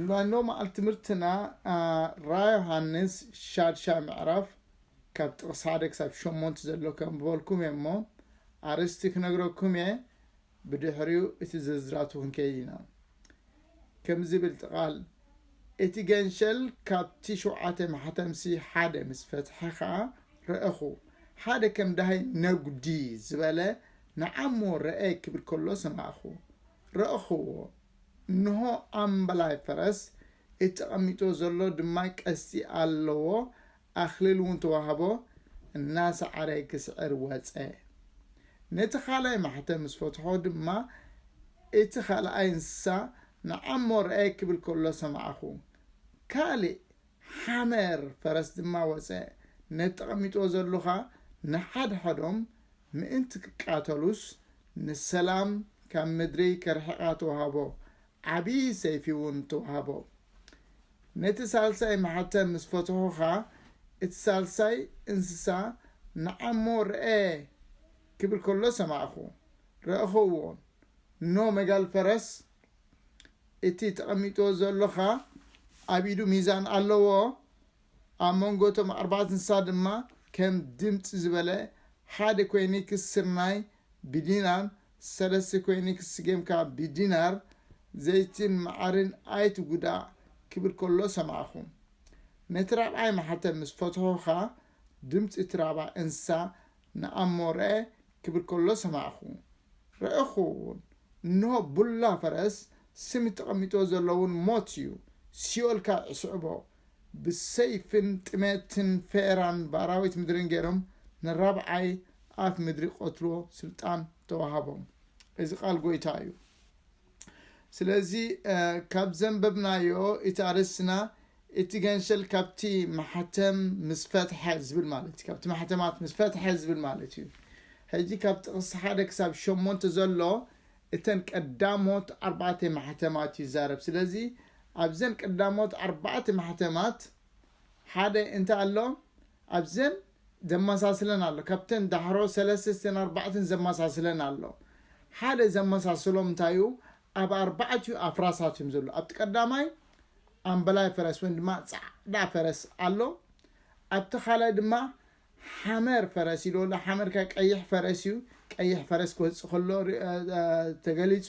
ሎሚ መዓልቲ ትምህርትና ራእይ ዮሃንስ ሻድሻይ ምዕራፍ ካብ ጥቕስ ሓደ ክሳብ ሸሞንተ ዘሎ ከንብበልኩም እየ እሞ ኣርእስቲ ክነግረኩም እየ ብድሕሪኡ እቲ ዝርዝራቱ ክንከይድ ኢና ከም ዝብል ጥቓል እቲ ገንሸል ካብቲ ሸውዓተ ማሕተምሲ ሓደ ምስ ፈትሐ ኸዓ ረእኹ ሓደ ከም ዳሃይ ነጉዲ ዝበለ ንዓሞ ረአ ክብል ከሎ ሰማዕኹ ረእኽዎ እንሆ ኣምበላይ ፈረስ፣ እቲ ተቐሚጥዎ ዘሎ ድማ ቀስቲ ኣለዎ፣ ኣኽሊል እውን ተዋህቦ፣ እናሰዓረ ክስዕር ወጸ። ነቲ ኻልኣይ ማሕተም ምስ ፈትሖ ድማ፣ እቲ ኻልኣይ እንስሳ ንዓሞ ረኣየ ኪብል ከሎ ሰማዕኹ። ካልእ ሓመር ፈረስ ድማ ወጸ፣ ነቲ ተቐሚጥዎ ዘሎ ኸኣ ንሓድሕዶም ምእንቲ ኪቃተሉስ፣ ንሰላም ካብ ምድሪ ከርሕቓ ተዋህቦ፣ ዓብዪ ሰይፊውን ተዋህቦ። ነቲ ሳልሳይ ማሕተም ምስ ፈትሖ ኸኣ፣ እቲ ሳልሳይ እንስሳ ንዓ እሞ ርኣ ኪብል ከሎ ሰማዕኩ፣ ረእኽዎን፣ እንሆ መጋል ፈረስ፣ እቲ ተቐሚጥዎ ዘሎኻ ኣብ ኢዱ ሚዛን ኣለዎ፣ ኣብ መንጎ እቶም ኣርባዕተ እንስሳ ድማ ከም ድምጺ ዝበለ ሓደ ኮይኒክስ ስርናይ ብዲናር፣ ሰለስተ ኮይኒክስ ስገምካ ብዲናር፣ ዘይትን መዓርን ኣይትጉዳእ ክብል ከሎ ሰማዕኩ። ነቲ ራብዓይ ማሕተም ምስ ፈትሑኻ፣ ድምጺ እቲ ራብዓይ እንስሳ ንኣሞረ ክብል ከሎ ሰማዕኩ፣ ረእኹ ውን፣ እንሆ ቡላ ፈረስ፣ ስም ተቐሚጦ ዘሎ ውን ሞት እዩ፣ ሲኦል ካኣ ይስዕቦ፣ ብሰይፍን ጥሜትን ፌራን ብኣራዊት ምድርን ገይሮም ንራብዓይ ኣፍ ምድሪ ክቐትልዎ ስልጣን ተዋሃቦም፣ እዚ ቃል ጎይታ እዩ። ስለዚ ካብ ዘንበብናዮ እቲ ኣርእስትና እቲ ገንሸል ካብቲ ማሕተም ምስ ፈትሐ ዝብል ማለት እዩ ካብቲ ማሕተማት ምስ ፈትሐ ዝብል ማለት እዩ ሕጂ ካብ ጥቕሲ ሓደ ክሳብ ሸሞንተ ዘሎ እተን ቀዳሞት ኣርባዕተ ማሕተማት እዩ ዛረብ ስለዚ ኣብዘን ቀዳሞት ኣርባዕተ ማሕተማት ሓደ እንታይ ኣሎ ኣብዘን ዘመሳስለን ኣሎ ካብተን ዳሕሮ ሰለስተ እተን ኣርባዕተን ዘመሳስለን ኣሎ ሓደ ዘመሳስሎም እንታይ እዩ ኣብ ኣርባዕቲኡ ኣፍራሳት እዮም ዘሎ ኣብቲ ቀዳማይ ኣምበላይ ፈረስ ወይም ድማ ፃዕዳ ፈረስ ኣሎ ኣብቲ ካልኣይ ድማ ሓመር ፈረስ ኢሉ ኣሎ ሓመር ከ ቀይሕ ፈረስ እዩ ቀይሕ ፈረስ ክወፅእ ከሎ ተገሊፁ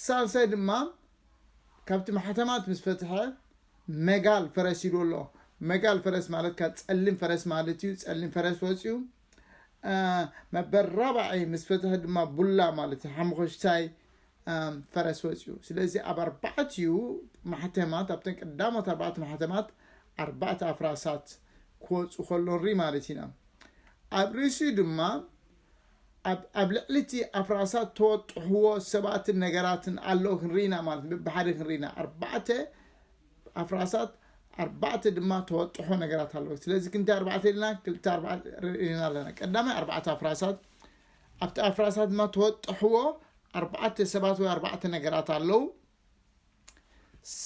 ሳልሳይ ድማ ካብቲ ማሕተማት ምስ ፈትሐ መጋል ፈረስ ሂዶ ኣሎ መጋል ፈረስ ማለት ካብ ጸሊም ፈረስ ማለት እዩ ጸሊም ፈረስ ወፅዩ መበር ራብዓይ ምስ ፈትሐ ድማ ቡላ ማለት እዩ ሓሙኸሽታይ ፈረስ ወፅዩ ስለዚ ኣብ ኣርባዕትኡ ማሕተማት ኣብተን ቀዳሞት ኣርባዕተ ማሕተማት ኣርባዕተ ኣፍራሳት ክወፁ ከሎ ንርኢ ማለት ኢና ኣብ ርእሲኡ ድማ ኣብ ኣብ ልዕሊ እቲ ኣፍራሳት ተወጥሕዎ ሰባትን ነገራትን ኣሎ ክንርኢ ኢና ማለት ብብሓደ ክንርኢ ኢና ኣርባዕተ ኣፍራሳት ኣርባዕተ ድማ ተወጥሖ ነገራት ኣለዎ ስለዚ ክንዲ ኣርባዕተ ኢልና ክልተ ኣርባዕተ ርኢና ኣለና ቀዳማይ ኣርባዕተ ኣፍራሳት ኣብቲ ኣፍራሳት ድማ ተወጥሕዎ ኣርባዕተ ሰባት ወይ ኣርባዕተ ነገራት ኣለዉ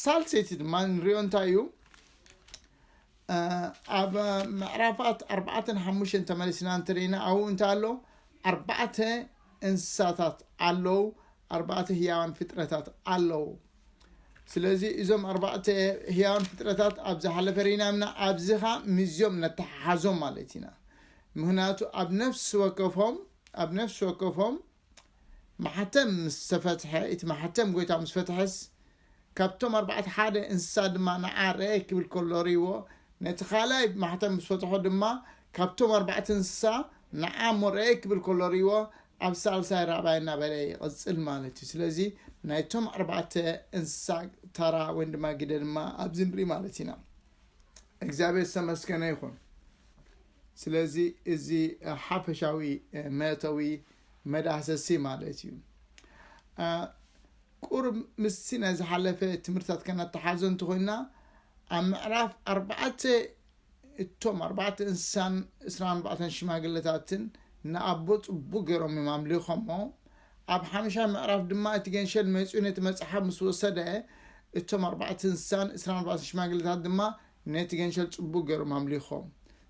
ሳልሰይቲ ድማ ንሪኦ እንታይ እዩ ኣብ ምዕራፋት ኣርባዕተን ሓሙሽተን ተመሊስና እንተለና ኣብኡ እንታይ ኣሎ ኣርባዕተ እንስሳታት ኣለዉ ኣርባዕተ ህያዋን ፍጥረታት ኣለዉ ስለዚ እዞም ኣርባዕተ ህያዋን ፍጥረታት ኣብ ዝሓለፈ ርኢና ምና ኣብዚ ኸ ምዝኦም ነተሓሓዞም ማለት ኢና ምክንያቱ ኣብ ነፍሲ ወከፎም ኣብ ነፍሲ ወከፎም ማሕተም ምስ ተፈትሐ፣ እቲ ማሕተም ጎይታ ምስ ፈትሐስ፣ ካብቶም ኣርባዕተ ሓደ እንስሳ ድማ ንዓ ርኣይ ክብል ከሎ ርእይዎ፣ ነቲ ካልኣይ ማሕተም ምስ ፈትሖ ድማ ካብቶም ኣርባዕተ እንስሳ ንዓ እሞ ርኣይ ክብል ከሎ ርእይዎ፣ ኣብ ሳልሳይ ራብዓይ እናበለ ይቕጽል ማለት እዩ። ስለዚ ናይቶም ኣርባዕተ እንስሳ ታራ ወይ ድማ ግደ ድማ ኣብዚ ንርኢ ማለት ኢና። እግዚኣብሔር ዝተመስገነ ይኹን። ስለዚ እዚ ሓፈሻዊ መእተዊ መዳህሰሲ ማለት እዩ ቁርብ ምስቲ ናይ ዝሓለፈ ትምህርትታት ከነተሓዞ እንተኮይና ኣብ ምዕራፍ ኣርባዕተ እቶም ኣርባዕተ እንስሳን እስራ ኣርባዕተን ሽማግለታትን ንኣቦ ፅቡቅ ገይሮም እዮም ኣምሊኾሞ ኣብ ሓምሻይ ምዕራፍ ድማ እቲ ገንሸል መፂኡ ነቲ መፅሓፍ ምስ ወሰደ እቶም ኣርባዕተ እንስሳን እስራ ኣርባዕተ ሽማግለታት ድማ ነቲ ገንሸል ጽቡቅ ገሮም ኣምሊኾም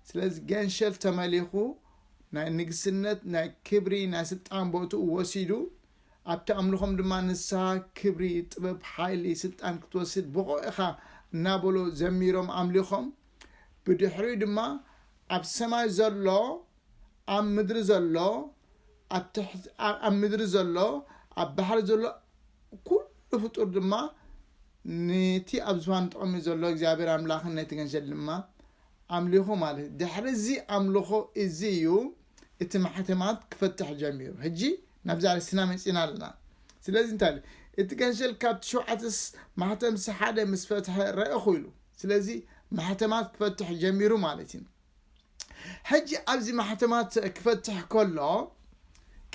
ስለዚ ገንሸል ተመሊኹ ናይ ንግስነት ናይ ክብሪ ናይ ስልጣን ቦትኡ ወሲዱ ኣብቲ ኣምልኾም ድማ ንስሃ ክብሪ ጥበብ ሓይሊ ስልጣን ክትወስድ ብቑዕ ኢኻ እናበሎ ዘሚሮም ኣምሊኾም ብድሕሪኡ ድማ ኣብ ሰማይ ዘሎ ኣብ ምድሪ ዘሎ ኣብ ትሕቲ ኣብ ምድሪ ዘሎ ኣብ ባሕሪ ዘሎ ኩሉ ፍጡር ድማ ነቲ ኣብ ዝፋን ተቐሚጡ ዘሎ እግዚኣብሔር ኣምላኽን ነቲ ገንሸል ድማ ኣምሊኹ ማለት ድሕሪ እዚ ኣምልኾ እዚ እዩ እቲ ማሕተማት ክፈትሕ ጀሚሩ ሕጂ ናብዚ ኣርስትና መፂና ኣለና ስለዚ እንታይ ኢሉ እቲ ገንሸል ካብቲ ሸውዓተ ማሕተምሲ ሓደ ምስ ፈትሐ ረእኹ ኢሉ ስለዚ ማሕተማት ክፈትሕ ጀሚሩ ማለት እዩ ሕጂ ኣብዚ ማሕተማት ክፈትሕ ከሎ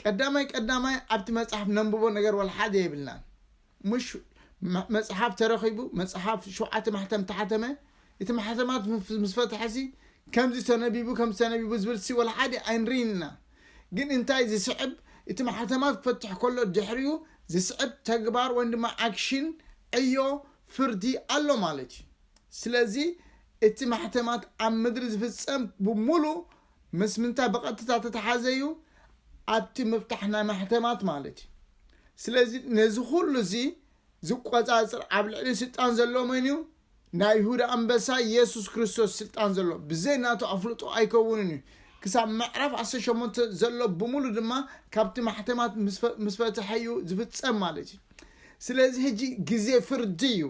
ቀዳማይ ቀዳማይ ኣብቲ መጽሓፍ ነንብቦ ነገር ወልሓደ የብልናን ምሽ መጽሓፍ ተረኺቡ መጽሓፍ ሸውዓተ ማሕተም ተሓተመ እቲ ማሕተማት ምስ ፈትሐሲ ከምዚ ተነቢቡ ከምዚ ተነቢቡ ዝብልሲ ወልሓደ ኣይንርኢን ኢና ግን እንታይ ዝስዕብ እቲ ማሕተማት ክፈትሕ ከሎ ድሕሪኡ ዝስዕብ ተግባር ወይም ድማ ኣክሽን ዕዮ ፍርዲ ኣሎ ማለት እዩ ስለዚ እቲ ማሕተማት ኣብ ምድሪ ዝፍጸም ብሙሉ ምስ ምንታይ ብቐጥታ ተተሓዘ እዩ? ኣብቲ ምፍታሕ ናይ ማሕተማት ማለት እዩ። ስለዚ ነዚ ኩሉ እዚ ዝቆጻጽር ኣብ ልዕሊ ስልጣን ዘሎ መን እዩ? ናይ ይሁዳ ኣንበሳ የሱስ ክርስቶስ ስልጣን ዘሎ ብዘይ ናቱ ኣፍልጦ ኣይከውንን እዩ። ክሳብ ምዕራፍ ዓሰርተ ሸሞንተ ዘሎ ብሙሉ ድማ ካብቲ ማሕተማት ምስ ፈትሐ እዩ ዝፍጸም ማለት እዩ። ስለዚ ሕጂ ግዜ ፍርዲ እዩ።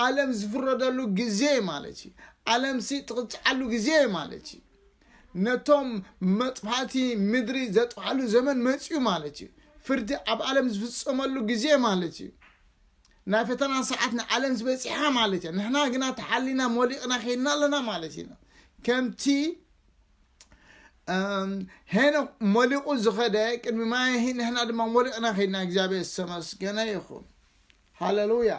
ዓለም ዝፍረደሉ ግዜ ማለት እዩ ዓለምሲ ትቕፅዓሉ ግዜ ማለት እዩ ነቶም መጥፋእቲ ምድሪ ዘጥፍኣሉ ዘመን መፅኡ ማለት እዩ ፍርዲ ኣብ ዓለም ዝፍፀመሉ ግዜ ማለት እዩ ናይ ፈተና ሰዓት ንዓለም ዝበፂሓ ማለት እያ ንሕና ግና ተሓሊና ሞሊቕና ከይድና ኣለና ማለት ኢና ከምቲ ሄኖክ ሞሊቑ ዝኸደ ቅድሚ ማያሂ ንሕና ድማ ሞሊቕና ከይድና እግዚኣብሔር ዝተመስገነ ይኹን ሃለሉያ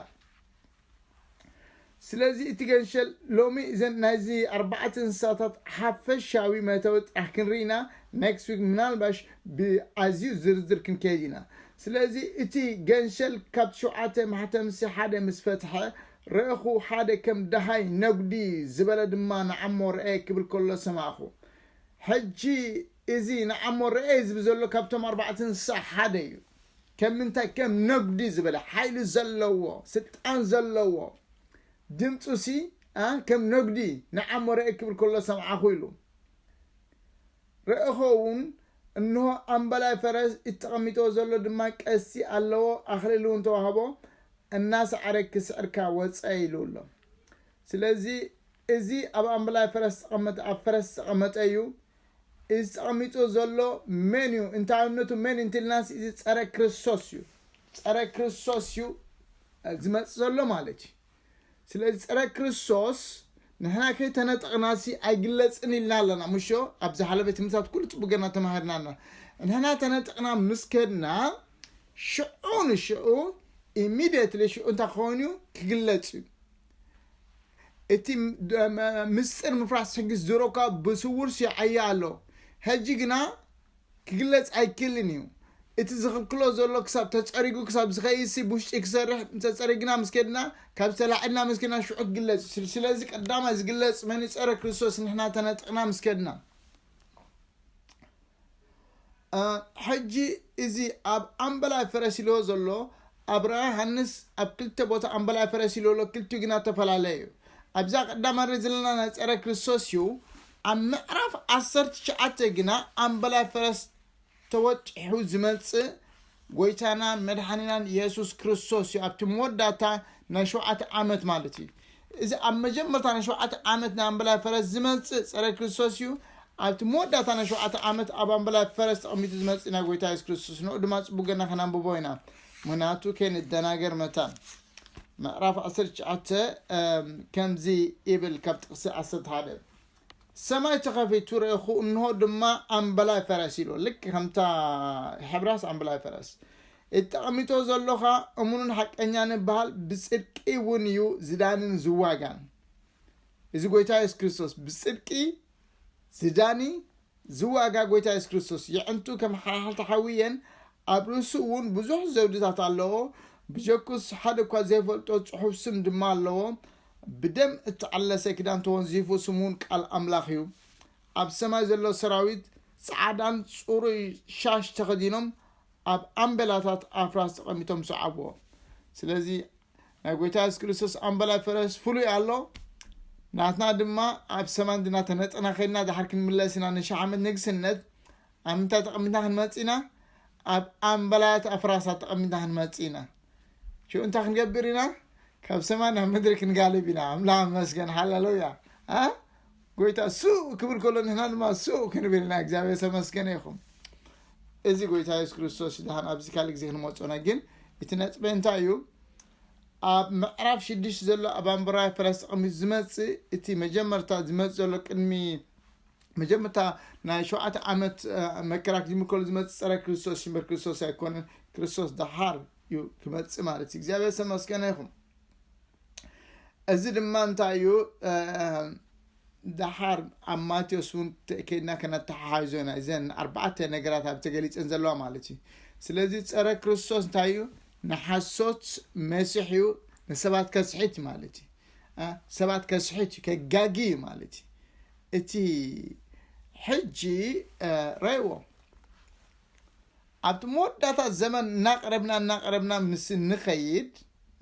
ስለዚ እቲ ገንሸል ሎሚ እዘን ናይዚ ኣርባዕተ እንስሳታት ሓፈሻዊ መእተዊ ጥራሕ ክንርኢ ኢና ኔክስት ዊክ ምናልባሽ ብኣዝዩ ዝርዝር ክንከይድ ኢና ስለዚ እቲ ገንሸል ካብ ሸውዓተ ማሕተምሲ ሓደ ምስ ፈትሐ ረእኹ ሓደ ከም ደሃይ ነጉዲ ዝበለ ድማ ንዓሞ ረኤ ክብል ከሎ ሰማዕኹ ሕጂ እዚ ንዓሞ ረኤ ዝብ ዘሎ ካብቶም ኣርባዕተ እንስሳ ሓደ እዩ ከም ምንታይ ከም ነጉዲ ዝበለ ሓይሊ ዘለዎ ስልጣን ዘለዎ ድምጹ ሲ ከም ነጉዲ ንዓሞ ረእ ክብል ከሎ ሰምዓኹ ኢሉ ረእኾ ውን እንሆ ኣምበላይ ፈረስ እቲ ተቐሚጥዎ ዘሎ ድማ ቀስቲ ኣለዎ ኣኽሊል ውን ተዋህቦ እናሰዓረ ክስዕርካ ወጸ ኢሉ ኣሎ ስለዚ እዚ ኣብ ኣምበላይ ፈረስ ዝተቐመጠ ኣብ ፈረስ ዝተቐመጠ እዩ እዚ ተቐሚጡ ዘሎ መን እዩ እንታይነቱ መን እንትልናስ እዚ ጸረ ክርስቶስ እዩ ጸረ ክርስቶስ እዩ ዝመጽእ ዘሎ ማለት እዩ ስለዚ ጸረ ክርስቶስ ንሕና ከይተነጠቕናሲ ኣይግለጽን ኢልና ኣለና ምሾ ኣብ ዝሓለፈ ትምህርታት ኩሉ ጽቡቅ ገና ተማሂርና ኣለና ንሕና ተነጠቕና ምስ ከድና ሽዑ ንሽዑ ኢሚድየትሊ ሽዑ እንታይ ክኸውን እዩ ክግለጽ እዩ እቲ ምስጢር ምፍራስ ሕጊ ዝሮካ ብስውር ሲዓያ ኣሎ ሕጂ ግና ክግለጽ ኣይክልን እዩ እቲ ዝኽልክሎ ዘሎ ክሳብ ተጸሪጉ ክሳብ ዝኸይሲ ብውሽጢ ክሰርሕ እንተጸሪግና ምስ ከድና ካብ ዝተላዕልና ምስ ከድና ሽዑ ክግለጽ እዩ ስለዚ ቀዳማይ ዝግለጽ መን ጸረ ክርስቶስ ንሕና ተነጥቕና ምስ ከድና ሕጂ እዚ ኣብ ኣምበላይ ፈረሲሎ ዘሎ ኣብ ራ ሃንስ ኣብ ክልተ ቦታ ኣምበላይ ፈረሲሎ ኣሎ ክልቲኡ ግና ተፈላለየ እዩ ኣብዛ ቀዳማ ርኢ ዘለና ናይ ፀረ ክርስቶስ እዩ ኣብ ምዕራፍ ዓሰርተ ትሽዓተ ግና ኣምበላይ ፈረስ ተወጢሑ ዝመጽእ ጎይታናን መድሓኒናን የሱስ ክርስቶስ እዩ ኣብቲ መወዳእታ ናይ ሸውዓተ ዓመት ማለት እዩ እዚ ኣብ መጀመርታ ናይ ሸውዓተ ዓመት ናይ ኣምበላይ ፈረስ ዝመጽእ ጸረ ክርስቶስ እዩ ኣብቲ መወዳእታ ናይ ሸውዓተ ዓመት ኣብ ኣምበላይ ፈረስ ተቐሚጡ ዝመጽእ ናይ ጎይታ የሱስ ክርስቶስ ንኡ ድማ ጽቡቅ ገና ከናንብቦ ኢና ምክንያቱ ከይንደናገር መታን ምዕራፍ 19 ከምዚ ይብል ካብ ጥቅሲ 11 ሰማይ ተኸፊቱ ረእኹ እንሆ ድማ ኣምበላይ ፈረስ ኢሎ ልክ ከምታ ሕብራስ ኣምበላይ ፈረስ እተቐሚጦ ዘሎኻ እሙንን ሓቀኛን እበሃል ብጽድቂ እውን እዩ ዝዳንን ዝዋጋን እዚ ጎይታ የሱስ ክርስቶስ ብጽድቂ ዝዳኒ ዝዋጋ ጎይታ የሱስ ክርስቶስ የዕንቱ ከም ሓልሓልቲ ሓዊ እየን፣ ኣብ ርእሱ እውን ብዙሕ ዘውድታት ኣለዎ፣ ብጀኩስ ሓደ እኳ ዘይፈልጦ ጽሑፍ ስም ድማ ኣለዎ፣ ብደም እተቐለሰ ክዳን ተወንዚፉ ስሙ እውን ቃል ኣምላኽ እዩ። ኣብ ሰማይ ዘሎ ሰራዊት ጻዕዳን ጽሩይ ሻሽ ተኸዲኖም ኣብ ኣምበላታት ኣፍራስ ተቐሚጦም ሰዓብዎ። ስለዚ ናይ ጎይታ የሱስ ክርስቶስ ኣምበላይ ፈረስ ፍሉይ ኣሎ ናትና ድማ ኣብ ሰማን ድና ተነጠና ከድና ድሓር ክንምለስ ኢና ንሽሕ ዓመት ንግስነት ኣብ ምንታይ ተቐሚጥና ክንመፅእ ኢና ኣብ ኣምበላያት ኣፍራሳት ተቐሚጥና ክንመፅእ ኢና ሽኡ እንታይ ክንገብር ኢና ካብ ሰማይ ናብ ምድሪ ክንጋልብ ኢና ኣምላኽ መስገን ሃለሉያ ጎይታ ሱእ ክብል ከሎ ንሕና ድማ ሱእ ክንብል ኢና እግዚኣብሔር ተመስገነ ይኹም እዚ ጎይታ የሱስ ክርስቶስ ድሓን ኣብዚ ካልእ ግዜ ክንመፅኦና ግን እቲ ነጥበ እንታይ እዩ ኣብ ምዕራፍ ሽዱሽተ ዘሎ ኣብ ኣንበራዊ ፈረስ ተቐሚጡ ዝመፅእ እቲ መጀመርታ ዝመፅእ ዘሎ ቅድሚ መጀመርታ ናይ ሸውዓተ ዓመት መከራ ክጅምር ከሎ ዝመፅእ ፀረ ክርስቶስ ሽምበር ክርስቶስ ኣይኮነን ክርስቶስ ደሓር እዩ ክመፅእ ማለት እዩ እግዚኣብሔር ዝተመስገነ ይኹም እዚ ድማ እንታይ እዩ ደሓር ኣብ ማቴዎስ እውን ከይድና ከነተሓሓዞ ኢና እዘን ኣርባዕተ ነገራት ኣብ ተገሊፀን ዘለዋ ማለት እዩ ስለዚ ፀረ ክርስቶስ እንታይ እዩ ንሓሶት መሲሕ እዩ ንሰባት ከስሒት ማለት እዩ አ፣ ሰባት ከስሒት እዩ ከጋጊ እዩ ማለት እዩ እቲ ሕጂ አ፣ ረእዎ ኣብቲ መወዳእታ ዘመን እናቐረብና እናቐረብና ምስ እንኸይድ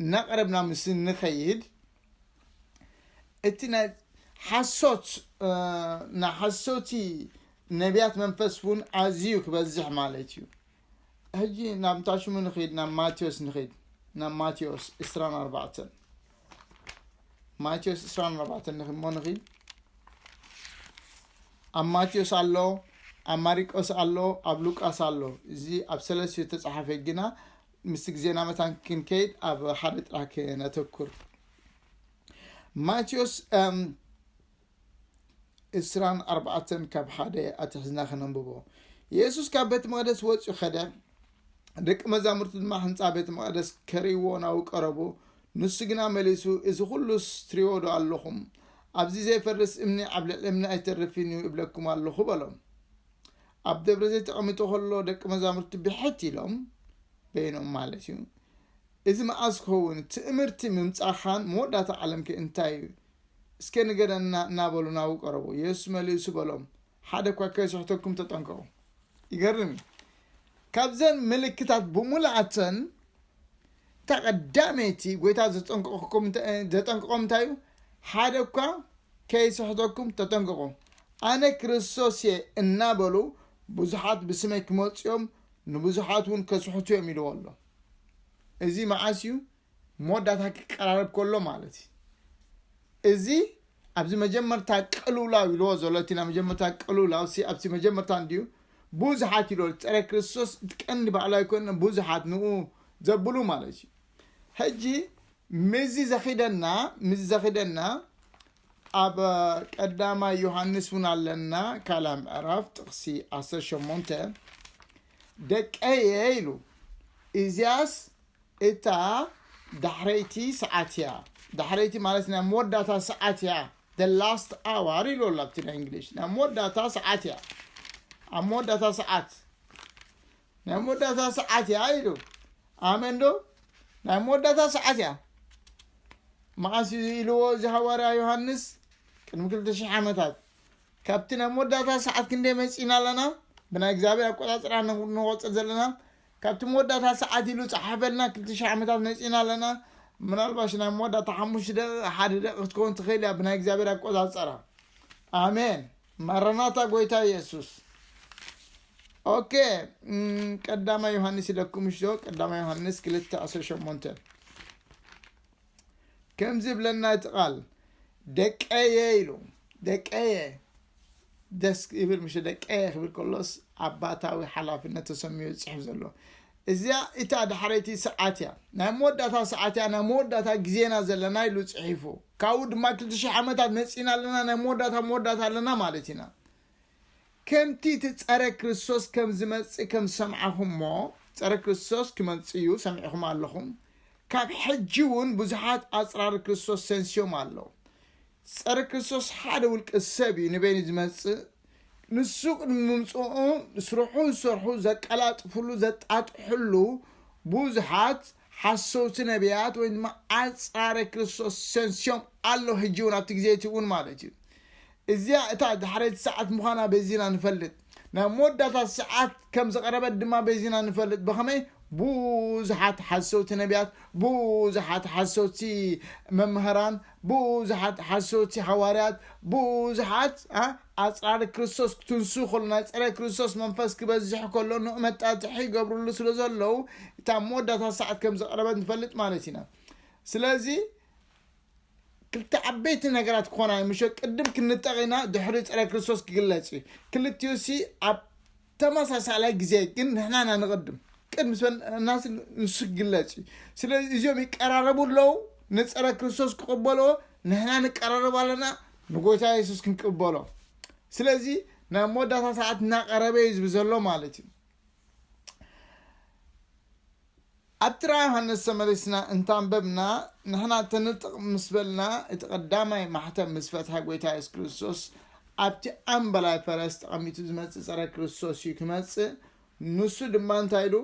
እናቐረብና ምስ እንኸይድ እቲ ናይ ሓሶት ናይ ሓሶቲ ነቢያት መንፈስ እውን ኣዝዩ ክበዝሕ ማለት እዩ ሕጂ ናብ እንታይ ሽሙ ንኸይድ ናብ ማቴዎስ ንኸይድ ናብ ማቴዎስ 24 ማቴዎስ ዕስራን ኣርባዕተን ንኺ እሞ ንኺ ኣብ ማቴዎስ ኣሎ ኣብ ማሪቆስ ኣሎ ኣብ ሉቃስ ኣሎ እዚ ኣብ ሰለስዮ ተፃሓፈ ግና ምስ ግዜና መታን ክንከይድ ኣብ ሓደ ጥራሕ ክነተኩር ማቴዎስ ዕስራን ኣርባዕተን ካብ ሓደ ኣትሕዝና ክነንብቦ የሱስ ካብ ቤት መቕደስ ወፅኡ ኸደ ደቂ መዛሙርቲ ድማ ህንፃ ቤት መቕደስ ከርእይዎ ናብኡ ቀረቡ ንሱ ግና መሊሱ እዚ ዅሉስ ትሪዎ ዶ ኣለኹም ኣብዚ ዘይፈርስ እምኒ ኣብ ልዕሊ እምኒ ኣይተርፍን እዩ እብለኩም ኣለኹ በሎም ኣብ ደብረ ዘይት ተቐሚጡ ከሎ ደቂ መዛሙርቲ ብሕት ኢሎም በይኖም ማለት እዩ እዚ መዓዝ ክኸውን ትእምርቲ ምምፃኻን መወዳእታ ዓለምከ እንታይ እዩ እስከ ንገረና እናበሉ ናብኡ ቀረቡ። የሱስ መሊሱ በሎም፣ ሓደ እኳ ከይስሕተኩም ተጠንቀቑ። ይገርም እዩ። ካብዘን ምልክታት ብምሉኣተን እታ ቀዳመይቲ ጎይታ ዘጠንቀቕኩም እንተ- ዘጠንቀቖም እንታይ እዩ? ሓደ እኳ ከይስሕተኩም ተጠንቀቑ። ኣነ ክርስቶስ እየ እናበሉ ብዙሓት ብስመይ ክመፁ እዮም፣ ንብዙሓት እውን ከስሕቱ እዮም ኢልዎ ኣሎ። እዚ መዓስ እዩ? መወዳእታ ክቀራረብ ከሎ ማለት እዩ እዚ ኣብዚ መጀመርታ ቅልውላው ኢልዎ ዘሎ እቲ ናይ መጀመርታ ቅልውላው ሲ ኣብቲ መጀመርታ እንድዩ ብዙሓት ኢልዎ ፀረ ክርስቶስ እቲ ቀንዲ ባዕሉ ኣይኮነ ብዙሓት ንኡ ዘብሉ ማለት እዩ ሕጂ ምዚ ዘኺደና ምዚ ዘኺደና ኣብ ቀዳማይ ዮሃንስ እውን ኣለና ካልኣ ምዕራፍ ጥቕሲ 18 ደቀየ ኢሉ እዚያስ እታ ዳሕረይቲ ሰዓት እያ ዳሕረይቲ ማለት ናይ መወዳእታ ሰዓት እያ the last hour ኢሉ ኣሎ ኣብቲ ናይ እንግሊሽ ናይ መወዳእታ ሰዓት እያ ኣብ መወዳእታ ሰዓት ናይ መወዳእታ ሰዓት እያ ኢሉ ኣመን ዶ ናይ መወዳእታ ሰዓት እያ መዓስ እዩ ኢልዎ እዚ ሃዋርያ ዮሃንስ ቅድሚ ክልተ ሽሕ ዓመታት ካብቲ ናይ መወዳእታ ሰዓት ክንደይ መፂና ኣለና ብናይ እግዚኣብሔር ኣቆፃፅራ ንቆፅር ዘለና ካብቲ መወዳእታ ሰዓት ኢሉ ፀሓፈልና ክልተ ሽሕ ዓመታት መፂና ኣለና ምናልባሽ ናይ መወዳእታ ሓሙሽተ ደቂቕ ሓደ ደቂቕ ክትከውን ትኽእል እያ ብናይ እግዚኣብሔር ኣቆፃፅራ ኣሜን ማረናታ ጎይታ ኢየሱስ ኦኬ ቀዳማይ ዮሃንስ ኢለኩም እሽዶ ቀዳማይ ዮሃንስ ክልተ ዕስራ ሸሞንተ ከምዚ ይብለና እቲ ቃል ደቀየ ኢሉ ደቀየ ደስ ይብል ምሽ ደቀየ ክብል ከሎስ ኣባታዊ ሓላፍነት ተሰሚዩ ዝፅሕፍ ዘሎ እዚያ እታ ዳሕረይቲ ሰዓት እያ ናይ መወዳእታ ሰዓት እያ ናይ መወዳእታ ግዜና ዘለና ኢሉ ፅሒፉ ካብኡ ድማ ክልተ ሽሕ ዓመታት መፂና ኣለና ናይ መወዳእታ መወዳእታ ኣለና ማለት ኢና ከምቲ እቲ ጸረ ክርስቶስ ከም ዝመጽእ ከም ዝሰምዓኹሞ፣ ጸረ ክርስቶስ ክመጽእ እዩ ሰሚዕኹም ኣለኹም፣ ካብ ሕጂ እውን ብዙሓት ኣጽራሪ ክርስቶስ ተንሲዮም ኣለዉ። ጸረ ክርስቶስ ሓደ ውልቀ ሰብ እዩ፣ ንበይኑ ዝመጽእ፣ ንሱ ቅድሚ ምምጽኡ ስርሑ ዝሰርሑ ዘቀላጥፍሉ ዘጣጥሕሉ ብዙሓት ሓሰውቲ ነብያት ወይ ድማ ኣጽራረ ክርስቶስ ተንሲዮም ኣለዉ፣ ሕጂ እውን ኣብቲ ግዜ እቲ እውን ማለት እዩ። እዚኣ እታ ዳሕረይቲ ሰዓት ምዃና በዚና ንፈልጥ። ናብ መወዳእታ ሰዓት ከም ዝቐረበት ድማ በዚና ንፈልጥ። ብኸመይ? ብዙሓት ሓሰውቲ ነብያት፣ ብዙሓት ሓሰውቲ መማህራን፣ ብዙሓት ሓሰውቲ ሃዋርያት፣ ብዙሓት ኣጽራሪ ክርስቶስ ክትንስኡ ከሎ፣ ናይ ጸረ ክርስቶስ መንፈስ ክበዝሕ ከሎ ንኡ መጣጥሒ ይገብርሉ ስለ ዘለዉ እታ መወዳእታ ሰዓት ከም ዝቐረበት ንፈልጥ ማለት ኢና። ስለዚ፣ ክልተ ዓበይቲ ነገራት ክኾና እዩ ምሸ ቅድም ክንጠቕ ኢና ድሕሪ ፀረ ክርስቶስ ክግለፅ እዩ ክልቲኡ ሲ ኣብ ተመሳሳላይ ግዜ ግን ንሕና ኢና ንቕድም ቅድሚ ናስ ንሱ ክግለፅ እዩ ስለ እዚኦም ይቀራረቡ ኣለዉ ንፀረ ክርስቶስ ክቕበልዎ ንሕና ንቀራረብ ኣለና ንጎይታ የሱስ ክንቅበሎ ስለዚ ናብ መወዳእታ ሰዓት እናቐረበ እዩ ዝብ ዘሎ ማለት እዩ ኣብ ጥራ ዮሃንስ ተመሊስና እንተ ኣንበብና፣ ንሕና ተንጥቕ ምስ በልና፣ እቲ ቀዳማይ ማሕተም ምስ ፈትሐ ጎይታ የሱስ ክርስቶስ ኣብቲ ኣምበላይ ፈረስ ተቐሚጡ ዝመጽእ ጸረ ክርስቶስ እዩ ክመጽእ ንሱ ድማ እንታይ ኢሉ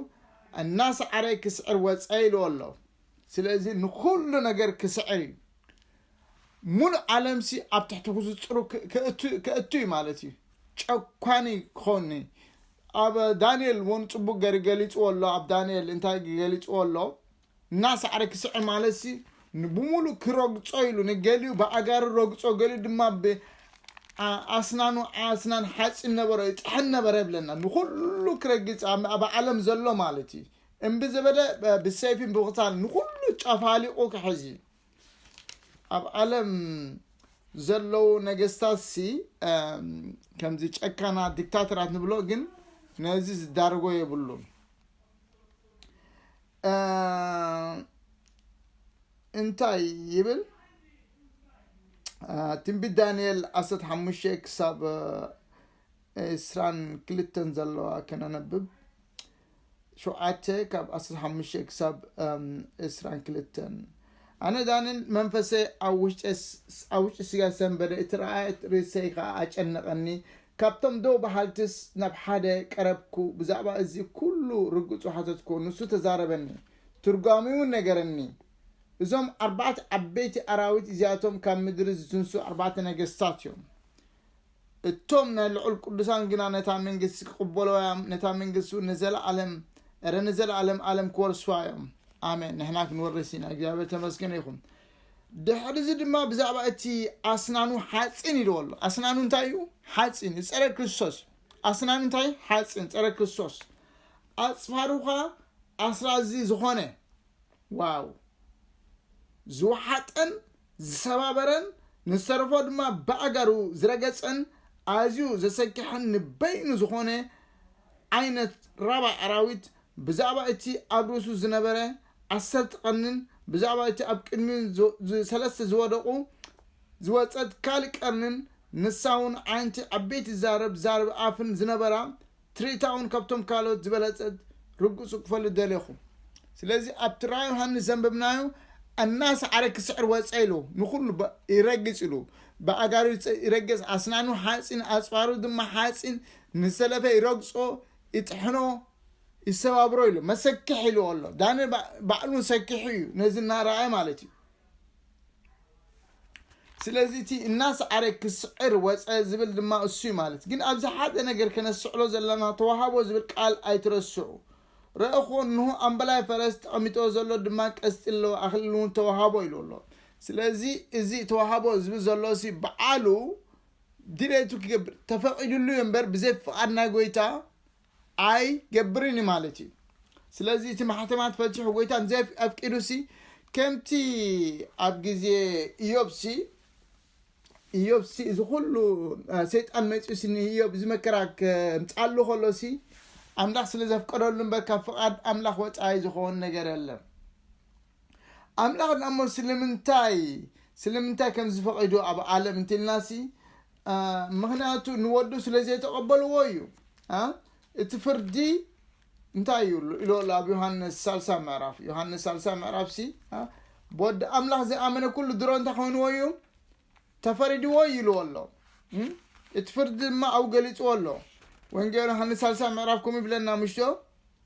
እናሰዓረ ክስዕር ወጸ ኢልዎ ኣሎ ስለዚ ንኹሉ ነገር ክስዕር እዩ ሙሉእ ዓለምሲ ኣብ ትሕቲ ክዝጽሩ ከእቱ እዩ ማለት እዩ ጨኳኒ ክኾኒ ኣብ ዳንኤል ውን ጽቡቅ ገሪ ገሊጽዎ ኣሎ ኣብ ዳንኤል እንታይ ገሊጽዎ ኣሎ እናሳዕረ ክስዕር ማለት ሲ ብሙሉእ ክረግጾ ኢሉ ንገሊኡ ብኣጋሪ ረግጾ ገሊኡ ድማ ኣስናኑ ኣስናን ሓጺን ነበረ ይጥሕን ነበረ ይብለና ንኩሉ ክረግጽ ኣብ ዓለም ዘሎ ማለት እዩ እምቢ ዝበለ ብሰይፊን ብክሳን ንኩሉ ጨፋሊቁ ክሕዝ እዩ ኣብ ዓለም ዘለዉ ነገስታት ሲ ከምዚ ጨካና ዲክታተራት ንብሎ ግን ነዚ ዝዳርጎ የብሉን እንታይ ይብል ትንቢት ዳንኤል 15 ክሳብ እስራን ክልተን ዘለዋ ከነነብብ ሸውዓተ ካብ ዓሰርተ ሓሙሽተ ክሳብ ዕስራን ክልተን ኣነ ዳንን መንፈሰ ኣብ ውሽጢ ስጋ ሰንበደ እቲ ረኣየት ርእሰይ ከዓ ኣጨነቐኒ ካብቶም ደው በሃልትስ ናብ ሓደ ቀረብኩ ብዛዕባ እዚ ኩሉ ርግጹ ሓተትኩ ንሱ ተዛረበኒ ትርጓሚውን ነገረኒ እዞም ኣርባዕተ ዓበይቲ ኣራዊት እዚኣቶም ካብ ምድሪ ዝትንሱ ኣርባዕተ ነገስታት እዮም እቶም ናይ ልዑል ቅዱሳን ግና ነታ መንግስቲ ክቕበልዋ እዮም፣ ነታ መንግስቲውን ንዘለዓለም፣ እረ ንዘለዓለም ኣለም ክወርስዋ እዮም። ኣሜን! ንሕና ክንወርስ ኢና። እግዚኣብሔር ተመስገነ ይኹን። ድሕሪዚ ድማ ብዛዕባ እቲ ኣስናኑ ሓፂን ኢልዎ ኣሎ። ኣስናኑ እንታይ እዩ? ሓፂን እዩ፣ ፀረ ክርስቶስ እዩ። ኣስናኑ እንታይ? ሓፂን፣ ፀረ ክርስቶስ። ኣፅፋሩኻ ኣስራዚ ዝኾነ ዋው ዝወሓጠን ዝሰባበረን ንዝተረፎ ድማ ብኣእጋሩ ዝረገጸን ኣዝዩ ዘሰክሕን ንበይኑ ዝኾነ ዓይነት ራባ ኣራዊት ብዛዕባ እቲ ኣብ ርእሱ ዝነበረ ዓሰርተ ቀርኒን ብዛዕባ እቲ ኣብ ቅድሚኡ ሰለስተ ዝወደቑ ዝወጸት ካልእ ቀርኒን ንሳውን ዓይንቲ ዓበይቲ ዝዛረብ ዛረቢ ኣፍን ዝነበራ ትርኢታ ውን ከብቶም ካልኦት ዝበለጸት ርግጹ ክፈሉ ደሌኹ ስለዚ ኣብቲ ራ ዮሃንስ ዘንበብናዮ ኣናሰዓረ ክስዕር ወጸ ኢሉ ንኹሉ ይረግጽ ኢሉ ብኣጋሩ ይረግጽ ኣስናኑ ሓጺን ኣጽፋሩ ድማ ሓጺን ንሰለፈ ይረግጾ ይጥሕኖ ይሰባብሮ ኢሉ መሰክሕ ኢሉ ኣሎ ዳንኤል ባዕሉ ሰኪሑ እዩ ነዚ እናረኣየ ማለት እዩ ስለዚ እቲ እናሰዓረ ክስዕር ወፀ ዝብል ድማ እሱ እዩ ማለት ግን ኣብዚ ሓደ ነገር ከነስዕሎ ዘለና ተዋሃቦ ዝብል ቃል ኣይትረስዑ ረእኹ እንሆ ኣምበላይ ፈረስ ተቐሚጦ ዘሎ ድማ ቀስጢ ኣለዎ ኣኽሊል እውን ተዋሃቦ ኢሉ ኣሎ ስለዚ እዚ ተዋሃቦ ዝብል ዘሎ ሲ በዓሉ ድሌቱ ክገብር ተፈቒዱሉ እዮ እምበር ብዘይ ፍቓድ ናይ ጎይታ ኣይ ገብርን እዩ ማለት እዩ ስለዚ እቲ ማሕተማት ፈትሑ ጎይታ እንዘ ኣፍቂዱ ሲ ከምቲ ኣብ ግዜ ኢዮብ ሲ ኢዮብ ሲ እዚ ኩሉ ሰይጣን መፅኡ ሲ ንኢዮብ እዚ መከራ ከምፃሉ ከሎ ሲ ኣምላኽ ስለ ዘፍቀደሉ እምበር ካብ ፍቓድ ኣምላኽ ወፃኢ ዝኸውን ነገር የለን ኣምላኽ ድኣሞ ስለምንታይ ስለምንታይ ከምዚ ፈቒዱ ኣብ ዓለም እንትልናሲ ምክንያቱ ንወዱ ስለ ዘይተቐበልዎ እዩ እቲ ፍርዲ እንታይ እዩ ኢሎ ኣሎ ኣብ ዮሃንስ ሳልሳ ምዕራፍ ዮሃንስ ሳልሳ ምዕራፍ ሲ ብወዲ ኣምላኽ ዝኣመነ ኩሉ ድሮ እንታይ ኮይንዎ እዩ ተፈሪድዎ እዩ ኢልዎ ኣሎ እቲ ፍርዲ ድማ ኣብኡ ገሊፅዎ ኣሎ ወንጌል ዮሃንስ ሳልሳ ምዕራፍ ከምኡ ይብለና ምሽቶ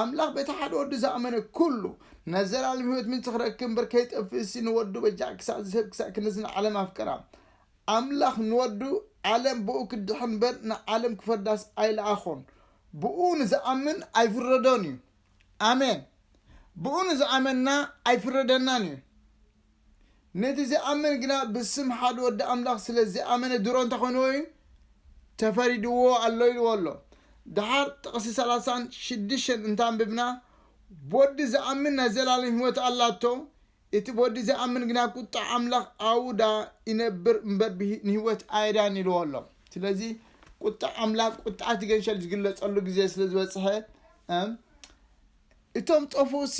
ኣምላኽ በቲ ሓደ ወዱ ዝኣመነ ኩሉ ናይ ዘልኣለም ሕይወት ምንጭ ክረክብ እምበር ከይጠፍእሲ ንወዱ በጃ ክሳዕ ዝህብ ክሳዕ ክንድዚ ንዓለም ኣፍቀራ። ኣምላኽ ንወዱ ዓለም ብእኡ ክትድሕን እምበር ንዓለም ክፈርዳስ ኣይለኣኾን። ብእኡ ንዝኣምን ኣይፍረዶን እዩ። ኣሜን። ብእኡ ንዝኣመንና ኣይፍረደናን እዩ። ነቲ ዚኣምን ግና ብስም ሓደ ወዲ ኣምላኽ ስለ ዚኣመነ ድሮ እንተ ዀነ ወይን ተፈሪድዎ ኣሎ ኢልዎ ኣሎ። ደሓር ጥቕሲ ሰላሳን ሽዱሽተን እንተ ኣንብብና ብወዲ ዚኣምን ናይ ዘለኣለም ህይወት ኣላቶ፣ እቲ ብወዲ ዘይኣምን ግና ቍጥዓ ኣምላኽ ኣብኡ ደኣ ይነብር እምበር ንህይወት ኣይረኣን ኢልዎ ኣሎ። ስለዚ ቍጥዓ ኣምላኽ ቍጥዓ እቲ ገንሸል ዚግለጸሉ ግዜ ስለ ዝበጽሐ እቶም ጠፍኡሲ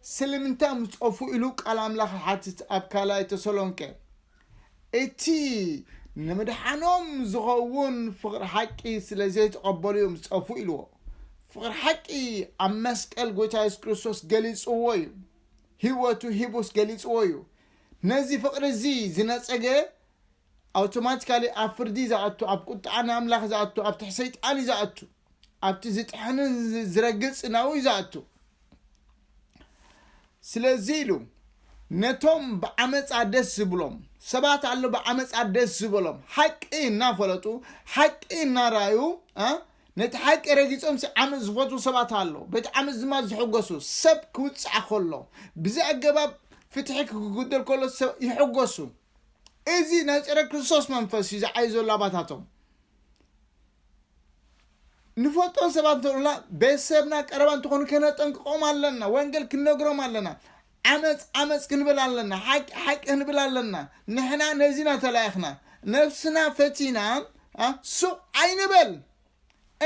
ስለምንታይ ምጸፉ ኢሉ ቃል ኣምላኽ ይሓትት ኣብ ካልኣይ ተሰሎንቄ። እቲ ንምድሓኖም ዝኸውን ፍቕሪ ሓቂ ስለ ዘይተቐበሉ እዮም ዝጸፉ ኢልዎ። ፍቕሪ ሓቂ ኣብ መስቀል ጎይታ የሱስ ክርስቶስ ገሊጽዎ እዩ። ህይወቱ ሂቡስ ገሊጽዎ እዩ። ነዚ ፍቕሪ እዚ ዝነጸገ ኣውቶማቲካሊ ኣብ ፍርዲ ዝኣቱ ኣብ ቁጥዓ ንኣምላኽ ዝኣቱ ኣብ ትሕ ሰይጣን እዩ ዝኣቱ ኣብቲ ዝጥሕንን ዝረግጽ ናው እዩ ዝኣቱ ስለዚ ኢሉ ነቶም ብዓመፃ ደስ ዝብሎም ሰባት ኣሎ ብዓመፃ ደስ ዝበሎም ሓቂ እናፈለጡ ሓቂ እናራዩ ነቲ ሓቂ ረጊፆም ዓመፅ ዝፈትዉ ሰባት ኣሎ በቲ ዓመፅ ድማ ዝሕጎሱ ሰብ ክውፃዕ ከሎ ብዚ ኣገባብ ፍትሒ ክጉደል ከሎ ይሕጎሱ እዚ ናይ ጸረ ክርስቶስ መንፈስ እዩ ዝዓዩ ዘሎ ኣባታቶም ንፈልጦን ሰባት እንተሉና ቤተሰብና ቀረባ እንትኾኑ ከነጠንቅቆም ኣለና ወንጌል ክንነግሮም ኣለና ዓመፅ ዓመፅ ክንብል ኣለና ሓቂ ሓቂ ክንብል ኣለና ንሕና ነዚና ተላኢኽና ነፍስና ፈቲና ሱቕ ኣይንበል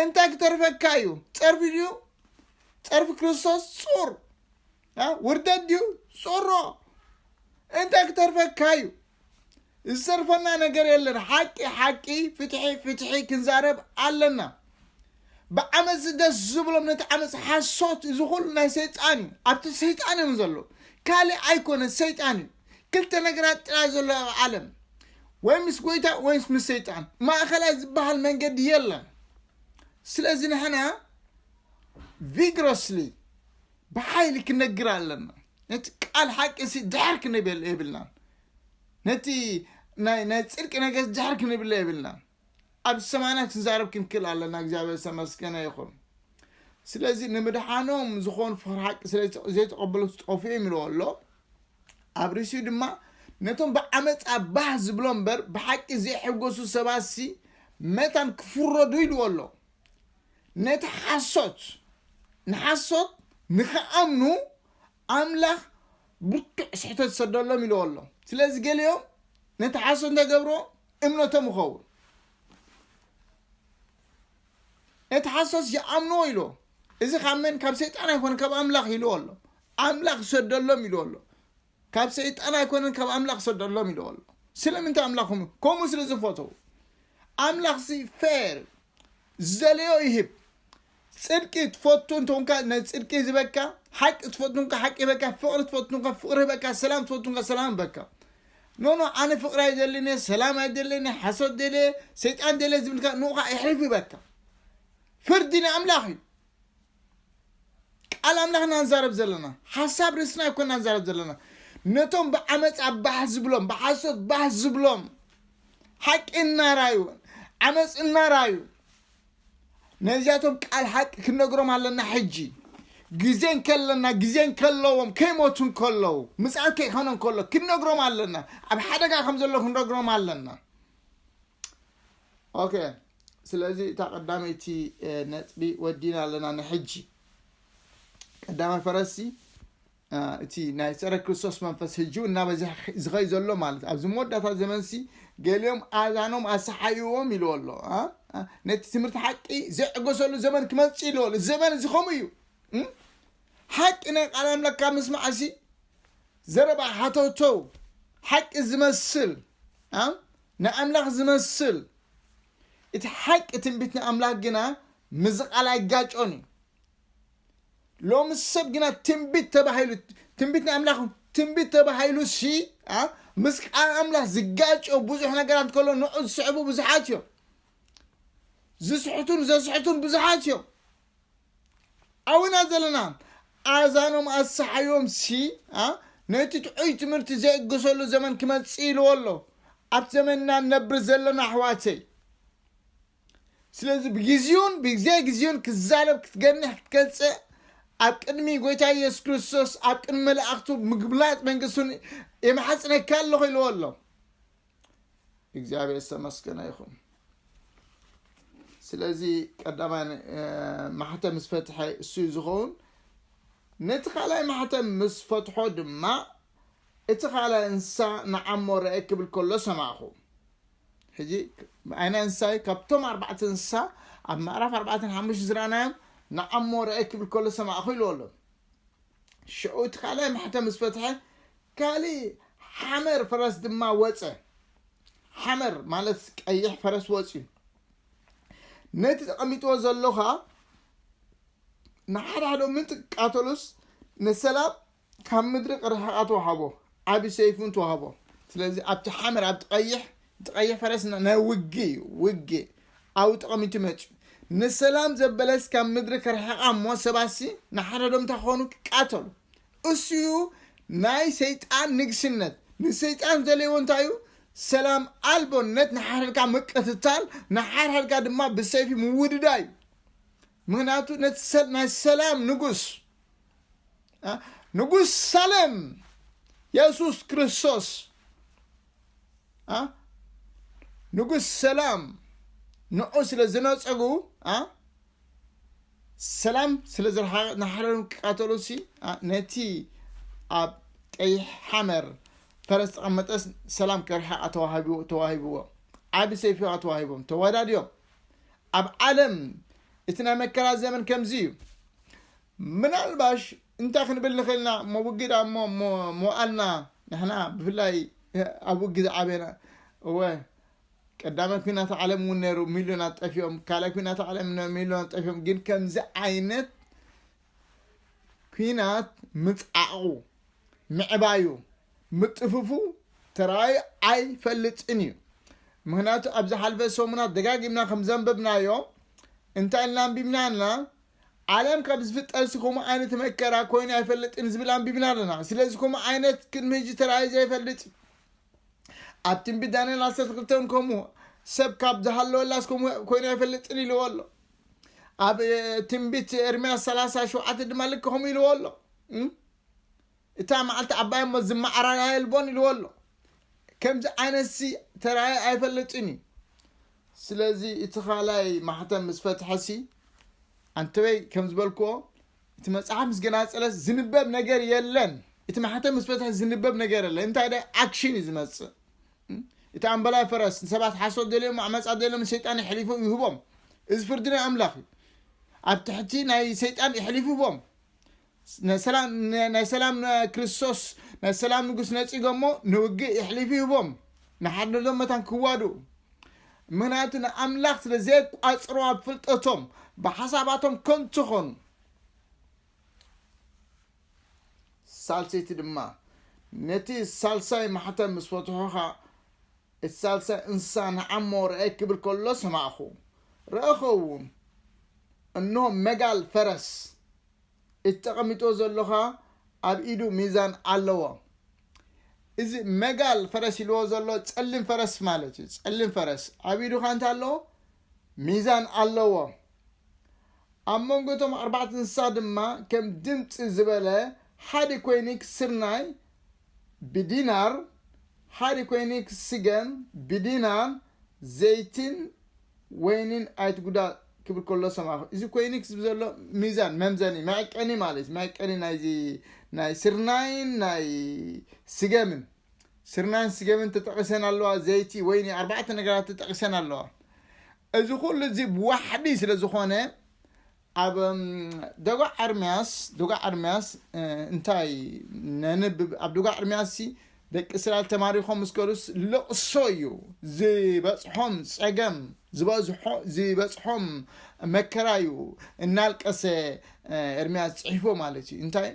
እንታይ ክተርፈካ እዩ ጸርፊ ድዩ ጸርፊ ክርስቶስ ጹር ውርደት ድዩ ጾሮ እንታይ ክተርፈካ እዩ ዝተርፈና ነገር የለን ሓቂ ሓቂ ፍትሒ ፍትሒ ክንዛረብ ኣለና ብዓመፅ ደስ ዝብሎም ነቲ ዓመፅ ሓሶት እዚ ኩሉ ናይ ሰይጣን እዩ ኣብቲ ሰይጣን እዮም ዘሎ ካልእ ኣይኮነ ሰይጣን እዩ ክልተ ነገራት ጥራይ ዘሎ ኣብ ዓለም ወይ ምስ ጎይታ ወይ ምስ ሰይጣን ማእኸላይ ዝበሃል መንገዲ የለን ስለዚ ንሕና ቪግሮስሊ ብሓይሊ ክንነግር ኣለና ነቲ ቃል ሓቂ ሲ ድሕር ክንብል የብልናን ነቲ ናይ ናይ ጽድቂ ነገር ድሕር ክንብለ የብልናን ኣብ ሰማይና ክንዛረብ ክንክእል ኣለና እግዚኣብሔር ዝተመስገነ ይኹን ስለዚ ንምድሓኖም ዝኾኑ ፍቅሪ ሓቂ ስለዘይተቐበሉ ዝጠፍኡ እዮም ኢልዎ ኣሎ ኣብ ርእሲኡ ድማ ነቶም ብዓመፃ ባህ ዝብሎ እምበር ብሓቂ ዘይሕጎሱ ሰባሲ መታን ክፍረዱ ኢልዎ ኣሎ ነቲ ሓሶት ንሓሶት ንኽኣምኑ ኣምላኽ ብርቱዕ ስሕተት ሰደሎም ኢልዎ ኣሎ ስለዚ ገሊኦም ነቲ ሓሶት እንታይ ገብርዎ እምነቶም ይኸውን ነቲ ሓሶት ይኣምንዎ ኢልዎ እዚ ካብ መን ካብ ሰይጣን ኣይኮነ ካብ ኣምላኽ ኢልዎ ኣሎ ኣምላኽ ሰደሎም ኢልዎ ኣሎ ካብ ሰይጣን ኣይኮነን ካብ ኣምላኽ ሰደሎም ኢልዎ ኣሎ ስለምንታይ ኣምላኽ ኹም ከምኡ ስለ ዝፈተው ኣምላኽ ሲ ፌር ዝደለዮ ይህብ ጽድቂ ትፈቱ እንተኾንካ ነዚ ጽድቂ ይህበካ ሓቂ ትፈቱ እንካ ሓቂ ይህበካ ፍቕሪ ትፈቱ እንካ ፍቕሪ ይህበካ ሰላም ትፈቱ እንካ ሰላም ይህበካ ኖኖ ኣነ ፍቕሪ ኣይደልን ሰላም ኣይደልን ሓሶት ደለ ሰይጣን ደለ ዝብልካ ንኡኻ ይሕልፍ ይበካ ፍርዲ ንኣምላኽ እዩ ቃል ኣምላኽ ኢና ንዛረብ ዘለና ሓሳብ ርእስና ኣይኮና ንዛረብ ዘለና ነቶም ብዓመፃ ባህ ዝብሎም ብሓሶት ባህ ዝብሎም ሓቂ እናራዩ ዓመፅ እናራዩ ነዚኣቶም ቃል ሓቂ ክንነግሮም ኣለና ሕጂ ግዜ እንከለና ግዜ እንከለዎም ከይሞቱ እንከለዉ ምፅኣት ከይኮነ እንከሎ ክንነግሮም ኣለና ኣብ ሓደጋ ከም ዘሎ ክንነግሮም ኣለና ኦከ ስለዚ እታ ቀዳመይቲ ነጥቢ ወዲና ኣለና ንሕጂ ቀዳማይ ፈረሲ እቲ ናይ ፀረ ክርስቶስ መንፈስ ህጂ እናበዝሐ ዝኸይ ዘሎ ማለት ኣብዚ መወዳእታ ዘመንሲ ገሊኦም ኣዛኖም ኣሰሓይዎም ኢልዎ ኣሎ ነቲ ትምህርቲ ሓቂ ዘዕገሰሉ ዘመን ክመፅእ ኢልዎ ኣሎ ዘመን እዚ ከምኡ እዩ ሓቂ ናይ ቃል ኣምላክ ካብ ምስማዕ እዚ ዘረባ ሓተውተው ሓቂ ዝመስል ንኣምላኽ ዚመስል፣ እቲ ሓቂ ትንቢት ንኣምላኽ ግና ምስዚ ቓል ኣይጋጮን እዩ። ሎሚ ሰብ ግና ትንቢት ተባሂሉ ትንቢት ንኣምላኽ ትንቢት ተባሂሉሲ ኣ ምስ ቃል ኣምላኽ ዝጋጮ ብዙሕ ነገራት ከሎ ንዑ ዝስዕቡ ብዙሓት እዮም። ዝስሕቱን ዘስሕቱን ብዙሓት እዮም። ኣውና ዘለና ኣዛኖም ኣሰሓዮም ሲ ነቲ ጥዑይ ትምህርቲ ዘይእገሰሉ ዘመን ክመጽእ ኢልዎ ኣሎ ኣብቲ ዘመንና ነብር ዘለና ኣሕዋተይ ስለዚ ብግዚኡን ብግዜ ግዚኡን ክዛረብ ክትገንሕ ክትገልጽእ ኣብ ቅድሚ ጎይታ ኢየሱስ ክርስቶስ ኣብ ቅድሚ መላእኽቱ ምግብላጥ መንግስቱን የማሕጽነካ ኣለኹ ኢልዎ ኣሎ እግዚኣብሔር ዝተመስገነ ይኹን ስለዚ ቀዳማይ ማሕተም ምስ ፈትሐ እሱ ዝኸውን ነቲ ካልኣይ ማሕተም ምስ ፈትሖ ድማ እቲ ካልኣይ እንስሳ ንዓሞ ረአ ክብል ከሎ ሰማዕኹ ሕጂ ዓይነ እንስሳ ካብቶም ኣርባዕተ እንስሳ ኣብ ምዕራፍ ኣርባዕተን ሓሙሽተ ዝረኣናዮም ንዓሞ ረአ ክብል ከሎ ሰማዕኹ ኢልዎ ኣሎ ሽዑ እቲ ካልኣይ ማሕተም ምስ ፈትሐ ካልእ ሓመር ፈረስ ድማ ወፀ ሓመር ማለት ቀይሕ ፈረስ ወፅዩ ነቲ ተቐሚጥዎ ዘሎኻ ንሓደ ሓደ ምንጢ ቃተሉስ ንሰላም ካብ ምድሪ ቅርሕቓት ወሃቦ ዓቢ ሰይፊ እውን ተዋህቦ። ስለዚ ኣብቲ ሓመድ ኣብቲ ቀይሕ እቲ ቀይሕ ፈረስ ን- ናይ ውግእ እዩ ውግእ ኣብኡ ጠቐሚቱ መጺኡ ንሰላም ዘበለስ ካብ ምድሪ ከርሕቓ እሞ ሰባትሲ ንሓድሕዶም እንታይ ክኾኑ ክቃተሉ እሱ እዩ ናይ ሰይጣን ንግስነት ንሰይጣን ዝደለይዎ እንታይ እዩ ሰላም ኣልቦነት ንሓድሕድካ ምቅትታል ንሓድሕድካ ድማ ብሰይፊ ምውድዳ እዩ ምክንያቱ ነቲ ሰል- ናይ ሰላም ንጉስ ንጉስ ሳለም የሱስ ክርስቶስ ንጉስ ሰላም ንዑ ስለ ዝነፀጉ ሰላም ስለ ዝሓረሩ ክቃተሉሲ ነቲ ኣብ ቀይሕ ሓመር ፈረስ ተቐመጠስ ሰላም ከርሕቃ ተዋሂብዎ ዓብ ሰይፊ ዋ ተዋሂቦም ተወዳድዮም ኣብ ዓለም እቲ ናይ መከራ ዘመን ከምዚ እዩ ምናልባሽ እንታይ ክንብል ንኽእል ኢና እሞ ውግእ ድኣ እሞ እሞ መዋእልና ንሕና ብፍላይ ኣብ ውግእ ዝዓበና እወ ቀዳማይ ኩናት ዓለም እውን ነይሩ ሚልዮናት ጠፊኦም ካልኣይ ኩናት ዓለም ነ- ሚልዮናት ጠፊኦም ግን ከምዚ ዓይነት ኩናት ምፅዓቑ ምዕባዩ ምጥፍፉ ተራእዩ ኣይፈልጥን እዩ ምክንያቱ ኣብ ዝሓልፈ ሰሙናት ደጋጊምና ከም ዘንበብናዮ እንታይ ኢልና ኣንቢብና ኣልና ዓለም ካብ ዝፍጠርሲ ከምኡ ዓይነት መከራ ኮይኑ ኣይፈልጥን ዝብል ኣንቢብና ኣለና ስለዚ ከምኡ ዓይነት ቅድሚ ህጂ ተራእዩ ዘይፈልጥ እዩ ኣብ ትንቢት ዳንኤል ዓሰርተ ክልተ እውን ከምኡ ሰብ ካብ ዝሃለወላስ ከምኡ ኮይኑ ኣይፈልጥን ኢልዎ ኣሎ ኣብ ትንቢት ኤርምያስ ሰላሳ ሸውዓተ ድማ ልክ ከምኡ ኢልዎ ኣሎ እታ መዓልቲ ዓባይ እሞ ዝመዓራራ የልቦን ኢልዎ ኣሎ። ከምዚ ዓይነትሲ ተራእዩ ኣይፈልጥን እዩ። ስለዚ እቲ ካልኣይ ማሕተም ምስ ፈትሐሲ ኣንተበይ ከም ዝበልክዎ እቲ መጽሓፍ ምስ ገናጸለስ ዝንበብ ነገር የለን። እቲ ማሕተም ምስ ፈትሐ ዝንበብ ነገር የለን። እንታይ ደ ኣክሽን እዩ ዝመጽእ። እቲ ኣምበላይ ፈረስ ንሰባት ሓሶት ደልዮም ዓመጻ ደልዮም ንሰይጣን የሕሊፉ ይህቦም። እዚ ፍርዲ ናይ ኣምላኽ እዩ። ኣብ ትሕቲ ናይ ሰይጣን የሕሊፉ ይህቦም። ናይ ሰላም ክርስቶስ ናይ ሰላም ንጉስ ነጺጎ እሞ ንውግእ የሕሊፉ ይህቦም ንሓድነቶም መታን ክዋድኡ ምክንያቱ ንኣምላኽ ስለ ዘየቋጽሮ ኣብ ፍልጠቶም ብሓሳባቶም ከንቱ ኾኑ ሳልሰይቲ ድማ ነቲ ሳልሳይ ማሕተም ምስ ፈትሖ ኸዓ እቲ ሳልሳይ እንስሳ ንዓሞ ረአየ ክብል ከሎ ሰማዕኹ ረእኸ እውን እንሆ መጋል ፈረስ እቲ ተቀሚጥዎ ዘሎ ከኣ ኣብ ኢዱ ሚዛን ኣለዎ እዚ መጋል ፈረስ ኢልዎ ዘሎ ጸሊም ፈረስ ማለት እዩ ጸሊም ፈረስ ኣብ ኢዱ ከኣ እንታይ ኣለዎ ሚዛን ኣለዎ ኣብ መንጎ እቶም ኣርባዕተ እንስሳ ድማ ከም ድምፂ ዝበለ ሓደ ኮይኒ ክስርናይ ብዲናር ሓደ ኮይኒ ክስገም ብዲናር ዘይትን ወይኒን ኣይትጉዳ ክብል ከሎ ሰማዕኩ። እዚ ኮይኒ ክዝብ ዘሎ ሚዛን መምዘኒ መዐቀኒ ማለት መዐቀኒ ናይዚ ናይ ስርናይን ናይ ስገምን ስርናይን ስገምን ተጠቂሰን ኣለዋ ዘይቲ ወይኒ ኣርባዕተ ነገራት ተጠቂሰን ኣለዋ እዚ ኩሉ እዚ ብዋሕዲ ስለ ዝኾነ ኣብ ደጓዕ ኤርምያስ ደጓዕ ኤርምያስ እንታይ ነንብብ ኣብ ደጓዕ ኤርምያስ ሲ ደቂ እስራኤል ተማሪኾም ምስ ከሉስ ለቕሶ እዩ ዝበፅሖም ፀገም ዝበዝሖ ዝበፅሖም መከራ እዩ እናልቀሰ ኤርምያስ ፅሒፎ ማለት እዩ እንታይ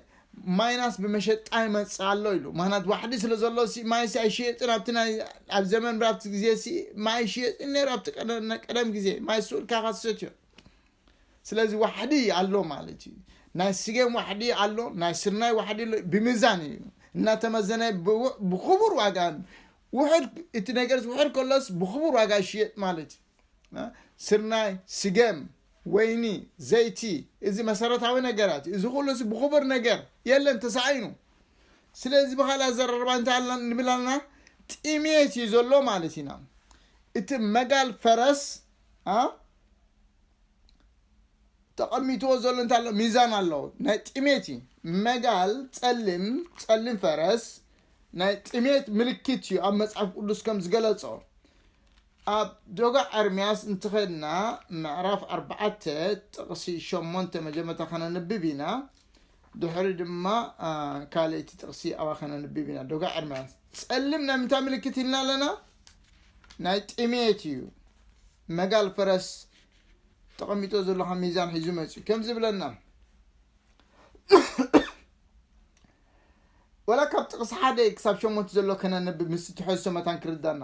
ማይናስ ብመሸጣ ይመፅእ ኣሎ ኢሉ ምክንያት ዋሕዲ ስለ ዘሎ ሲ ማይ ሲ ኣይሽየጥን ኣብቲ ናይ ኣብ ዘመን ብራብቲ ግዜ ሲ ማይ ይሽየጥን ነይሩ ኣብቲ ቀደም- ቀደም ግዜ ማይ ስኡልካ ካሰትዮ ስለዚ ዋሕዲ ኣሎ ማለት እዩ ናይ ስገም ዋሕዲ ኣሎ ናይ ስርናይ ዋሕዲ ኣሎ ብሚዛን እዩ እናተመዘነ ብክቡር ዋጋ ውሕድ እቲ ነገር ውሕድ ከሎስ ብክቡር ዋጋ ይሽየጥ ማለት እዩ ስርናይ ስገም ወይኒ ዘይቲ እዚ መሰረታዊ ነገራት እዚ ኩሉስ ብክቡር ነገር የለን ተሳኢኑ ስለዚ ብካል ኣዘራርባ እንታይ ኣላ ንብል ኣለና ጥሜት እዩ ዘሎ ማለት ኢና እቲ መጋል ፈረስ ተቐሚጥዎ ዘሎ እንታይ ኣሎ ሚዛን ኣሎ ናይ ጥሜት እዩ መጋል ጸሊም ጸሊም ፈረስ ናይ ጥሜት ምልክት እዩ ኣብ መጽሓፍ ቅዱስ ከም ዝገለጾ ኣብ ዶጋ ኤርምያስ እንትኸድና ምዕራፍ ኣርባዓተ ጥቕሲ ሸሞንተ መጀመርታ ከነንብብ ኢና ድሕሪ ድማ ካልእቲ ጥቕሲ ኣባ ከነንብብ ኢና ዶጋ ኤርምያስ ጸሊም ናይ ምንታይ ምልክት ኢልና ኣለና ናይ ጥሜት እዩ መጋል ፈረስ ተቐሚጦ ዘሎ ከም ሚዛን ሒዙ መፅዩ ከምዚ ብለና ወላ ካብ ጥቕሲ ሓደ ክሳብ ሸሞንተ ዘሎ ከነንብብ ምስ ትሕዝቶ መታን ክርዳና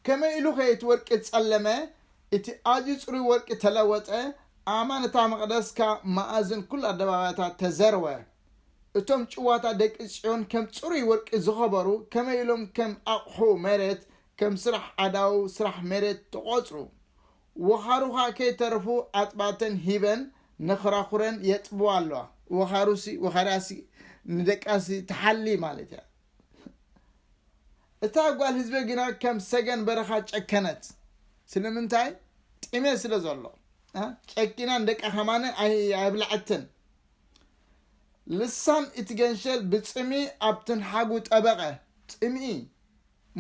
ከመይ ኢሉ ኸ እቲ ወርቂ ጸለመ እቲ ኣዝዩ ጽሩይ ወርቂ ተለወጠ ኣማን እታ መቕደስካ መኣዝን ኩሉ ኣደባባያታት ተዘርወ እቶም ጭዋታ ደቂ ጽዮን ከም ጽሩይ ወርቂ ዝኸበሩ ከመይ ኢሎም ከም ኣቕሑ መሬት ከም ስራሕ ኣዳው ስራሕ መሬት ተቖጽሩ። ወኻሩኻ ከይተረፉ ኣጥባተን ሂበን ንክራኹረን የጥብዋ ኣለዋ። ወኻሩሲ ወኻርያሲ ንደቃሲ ትሓሊ ማለት እያ። እታ ጓል ህዝበ ግና ከም ሰገን በረኻ ጨከነት። ስለምንታይ? ጢሜ ስለ ዘሎ። ጨኪና ንደቃ ከማነ ኣይብላዐትን። ልሳን እቲ ገንሸል ብጽምኢ ኣብ ትንሓጉ ጠበቐ። ጽምኢ!